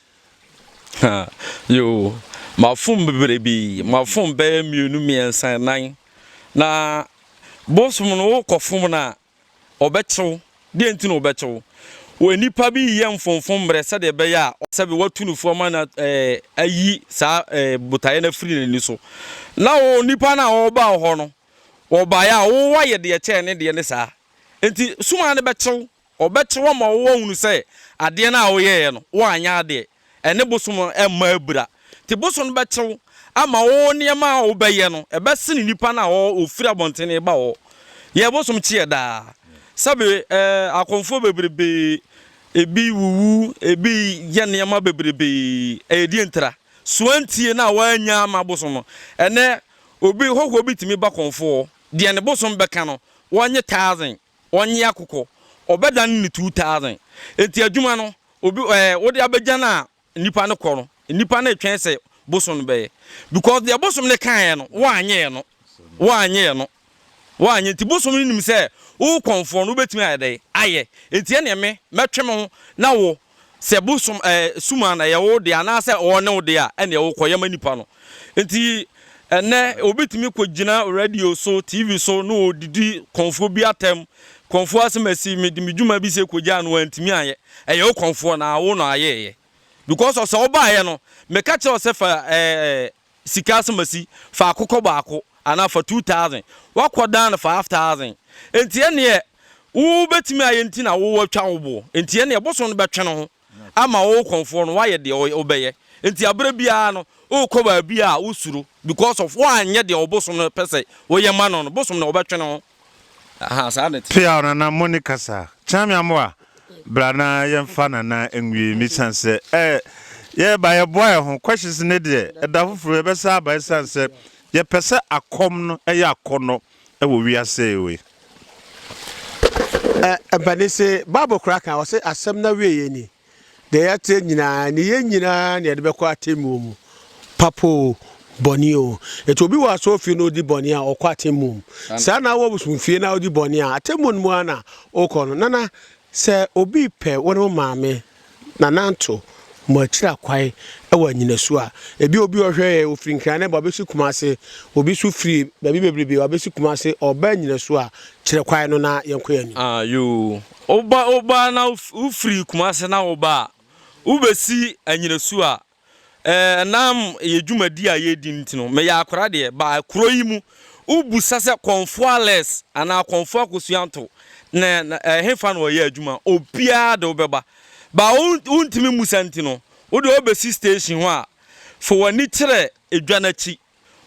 Ha, yoo, mafom bebrebe, mafom bɛyɛ mmienu, mmiɛnsa, nnan. Na bosom no, wokɔfom no a, ɔbɛkye wo. Deɛ nti na ɔbɛkye wo? Wɔ nnipa bi reyɛ mfomfom mmerɛ sɛdeɛ ɛbɛyɛ a sɛbe watu no fo ama no ayi saa botaeɛ no afiri n'ani so. Na wo nipa no a ɔreba wo hɔ no, ɔbaeɛ a, wo ayɛ deɛ ɛkyɛn ne deɛ ne saa. Nti, sum ara no bɛkye wo. Wɔbɛkye wo ama wɔahunu sɛ adeɛ no a woyɛeɛ no, woanyɛ adeɛ. Ɛne bosom mma abira. Enti bosom no bɛkye wo ama wo nneɛma a wobɛyɛ no, ɛbɛsene nnipa no a wɔfiri abɔntene reba hɔ. Yɛ bosom kyeɛ daa. Sɛbe ɛɛ, akɔmfoɔ bebrebe, ebi wuwu, ebi yɛ nneɛma bebrebe. Ɛyɛ deɛ ntira. So antie na woannya amma bosom no? Ɛnnɛ, obi, hɔhoɔ bi tumi ba kɔmfoɔ hɔ, deɛ ne bosom bɛka no, wɔnnye thousand. Ɔnye akokɔ, ɔbɛdan no two thousand. Enti adwuma no, obi eh, wode abɛgya no a nnipa no kɔ no, nnipa no retwɛn sɛ bosom no bɛyɛ. Because deɛ bosom no kaeɛ no, woanyɛ no. Woanyɛ no. Woanyɛ. Nti bosom no nim sɛ wo kɔmfoɔ no, wobɛtumi ayɛ dɛn? Ayɛ. Enti ɛneɛ me, mɛtwe me ho, na wo, Sɛ bosom ɛɛ sum a na ɛyɛ wo de anaasɛ wɔn ne wo de a ɛneɛ wo kɔ yɛ ma nipa no nti ɛnɛ obi tumi kɔ gyina radio so TV so na ɔdidi kɔnfoɔ bi atɛm kɔnfoɔ asɛm asi me de me dwuma bi sɛ kɔ gyaa no antumi ayɛ ɛyɛ wo kɔnfoɔ na wo na ayɛɛyɛ because ɔsɛ ɔbaayɛ no meka kyerɛ ɔsɛ fa ɛɛ sika asamasi faako kɔ baako anaa fa two thousand wakɔ dan no five thousand nti ɛneɛ wobɛtumi ayɛ nti na wowatwa wo boɔ nti ɛneɛ bosom no bɛtwe no ho ama wo kɔnfoɔ no wayɛ deɛ wobɛyɛ nti aberɛ biara no wokɔ baabi a wosuro because of woanyɛ deɛ ɔbosom no pɛ sɛ woyɛ ma no no bosom no wɔbɛtwe no ho Peaw nana mo ne kasa. Kyeame Amoah bra na yɛnfa nana nwie me san sɛ ɛ yɛba yɛboa yɛ ho questions ne deɛ ɛda foforo yɛbɛsa aba ɛsan sɛ yɛpɛ sɛ akɔm no ɛyɛ akɔnɔ ɛwɔ wiase we. Ɛ ɛbɛne se bible koraa kan ɔse asɛm na wie yɛ nie. deɛ yɛateɛ nyinaa ne yɛn nyinaa na yɛde bɛkɔ atemmuo mu, papo o, bɔne o. Nti obi wɔ asɔrefie na ɔdi bɔne a, ɔkɔ atemmuo mu. Saa na wɔ bosomfie na wodi bɔne a, atemmuo no mu ara na wokɔ no. Nana, sɛ obi repɛ wo ne wo maame na nanto mo akyiri akwan wɔ anyinasu a, ebia obi ɔhwɛ yɛn, ɔfiri Nkran aba ɔbɛsi Kumase, obi nso firi baabi bebrebe ɔbɛsi Kumase, ɔreba anyinasu a, kyerɛ kwan no na yɛnkɔ yɛn anim. Ah, yoo, Woba woba na wo firi Kumase na woba a wo bɛ si anyinasu a ɛnam yɛ dwumadi a yɛredi no nti no me yɛ akora deɛ ba kuro yi mu wo bu sa sɛ kɔnfoa less anaa kɔnfoa kosuanto na ɛhefa na ɔyɛ adwuma obiara de wo bɛba ba wo wo ntumi musa nti no wo deɛ wo bɛ si station ho a fo wani kyerɛ edwa n'akyi.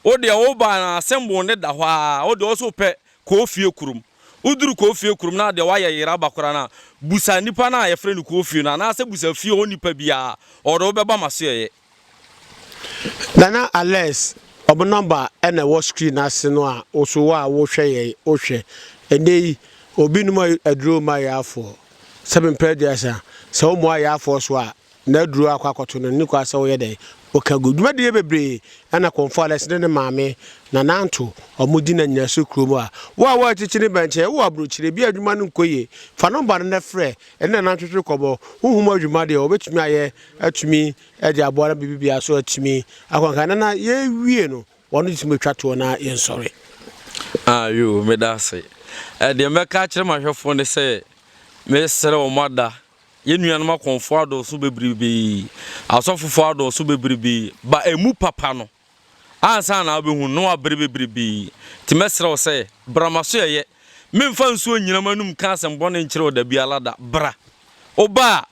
Wo deɛ wo ba no asɛm boo no da hɔ ara, wo deɛ wo nso wopɛ koofie kurom. Woduru koofie kurom no adeɛ woayɛ yera ba koraa no a, busa nnipa no a yɛfrɛ no koofie no anaasɛ busa fie hɔ nnipa biara, wɔde wo bɛba m'asoɛeɛ. Nana Alex, wɔn number na ɛwɔ screen no ase no a wo nso wo a wohwɛ yɛn wo hwɛ. Ɛnnɛ yi, obi nom aduro mma yaafoɔ. Sɛ mempɛ deɛ sɛ, sɛ wommoa yaafoɔ so a, na aduru akɔ akɔto no, nni kwa sɛ woyɛ dɛn? Woka gu. Dwumadie bebree na Komfo-Alex ne ne maame Nana Anto wɔn di na nnyina so kuro mu a. Wo a wo akyikyiri bɛn kyɛ, wo wɔ abrokyire, bi a adwuma no nkɔ yie, fa nɔmba no na frɛ ɛne Nana ntwetwe nkɔmmɔ. Honhom adwuma deɛ, wɔbɛtumi ayɛ atumi de aboa na biribi biara nso atumi akɔ nkan. Nana, yɛrewie no, wɔn de tumi bɛtwa toɔ na yɛnsɔre. Ah yoo, meda ase. Deɛ mɛka akyerɛ m'ahwɛfoɔ ne sɛ, mesrɛ wɔn ada Yɛn nuanom akɔmfoɔ adɔɔso bebribee, asɔfofoɔ adɔɔso bebribee, ba ɛmu papa no, ansa na wobɛhu no, na wabere bebribee. Nti mɛsrɛ wo sɛ, bra m'asoɛeɛ. Meremfa nsuo nnyina m'anom nka asɛm bɔne nkyerɛ wo da biara da. Bra. Woba a,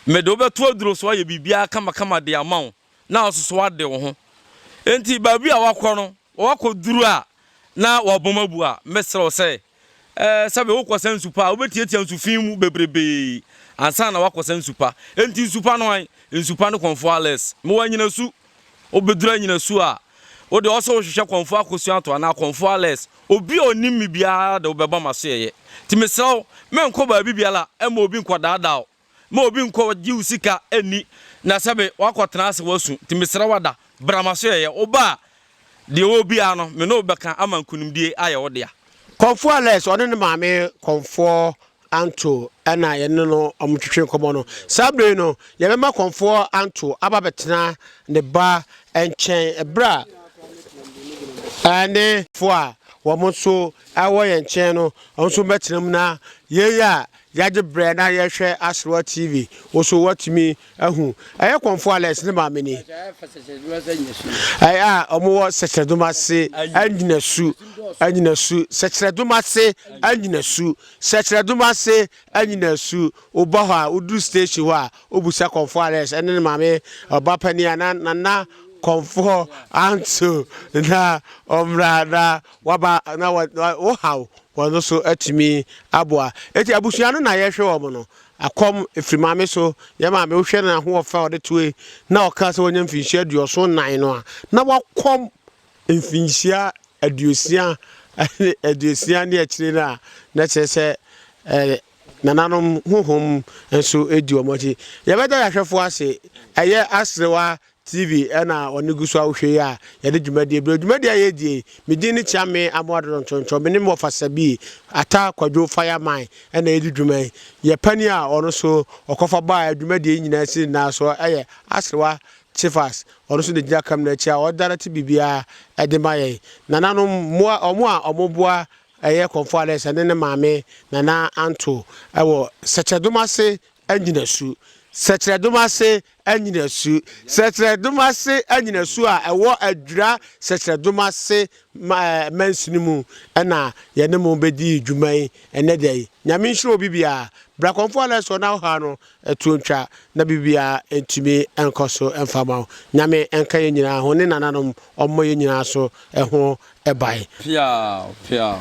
mede wo bɛto aduro so ayɛ biribiara kamakama de ama wo, na asoso ade wo ho. Enti baabi a woakɔ no, Wɔakɔduru a na wɔabom abu a, mɛsrɛ wo sɛ, ɛɛ, sɛbe wokɔsa nsu pa a, wobɛtiatia nsu fi mu bebrebee ansa na woakɔsa nsu pa. Enti nsu pa no ae? Nsu pa no kɔmfoɔ Alex. Mewɔ anyinasu. Wobɛduru anyinasu a, wo deɛ ɔwɔ sɛ wohwehwɛ kɔmfoɔ Akosua-Ato anaa kɔmfoɔ Alex. Obi a ɔnim me biara de wobɛbɔ m'asoɛeɛ. Enti mesrɛ wo, menkɔ baabi biara mma obi nkɔdaadaa wo. ma obi nkɔ gye wo sika nni na sɛbe wakɔ tena ase wasu nti mesrɛ wo ada bra maso yɛyɛ wo ba a deɛ ɔwɔ biara no me ne wo bɛka ama nkunimdie ayɛ wo dea. Kɔmfoɔ Alex ɔne ne maame Kɔmfoɔ Anto na yɛne no ɔmo twetwe nkɔmɔ no. Saa bere yi no yɛbɛma Kɔmfoɔ Anto aba abɛtena ne ba nkyɛn bere a ɛne. Foɔ a wɔn nso ɛwɔ yɛn nkyɛn no wɔn nso bɛtena mu na yei a Yɛagye berɛ na yɛrehwɛ Aserewa TV. Wo nso woatumi ahu. Ɛyɛ Kɔmfo Alex ne maame ni. Ɛyɛ a wɔwɔ Sɛkyerɛdom ase Anyinasu, Anyinasu, Sɛkyerɛdom ase Anyinasu, Sɛkyerɛdom ase Anyinasu. Woba hɔ a, woduru station hɔ a, wobisa Kɔmfo Alex ne ne maame, Ɔbapanin anaa Nana Kɔmfo Anso na wɔmmra na Waba na wo haw wɔn no so atumi aboa. Eti abusua no na yɛhwɛ wɔn no. Akɔm firi maame so. Yɛn maame wohwɛ no ahoɔfɛ a ɔde toe na ɔkaa sɛ wanya mfinhyia aduɔson nan no a na wakɔm mfinhyia aduosia ne aduosia ne akyire no a na kyerɛ sɛ eh, nananom honhom nso di wɔn akyi. Yɛbɛda yɛahwɛfoɔ ase. Ɛyɛ aserewa TV na wɔde gu so a wohwɛ yi a yɛde dwumadie brɛ wo. Dwumadie a yɛredie yi, me din ne Kyame Amoah Dodo Ntonto. Me ne me wɔfasa bi, Attah Kwadwo Fireman na yɛdi dwuma yi. Yɛn panin a ɔno nso ɔkɔfa baa dwumadie yi nyinaa si nyinaa so yɛ Aserewa Kyefas. Ɔno nso na ɔgyina kamina akyi a ɔdirɛte biribiara de ma yɛn. Nananom, mmoa, wɔn a wɔboa ɛyɛ Kɔmfo Alex ne ne maame Nana Anto wɔ Sɛkyerɛdom ase nnyinasu. Sɛkyerɛdom ase Nnyinasu, Sɛkyerɛdom ase nnyinasu a ɛwɔ Adwira Sɛkyerɛdom ase mansini mu na yɛne mo bɛdi dwuma yi ɛnnɛ da yi. Nyame nhyira obi biara. Bra Kɔmfoɔ Alex wɔ n'ahoha no, ɛtoɔ ntwa na biribiara ntumi nkɔ so mfa mma wo. Nyame nka yɛn nyinaa ho ne nananom ɔmmɔ yɛn nyinaa so ho ban. Peaw! Peaw!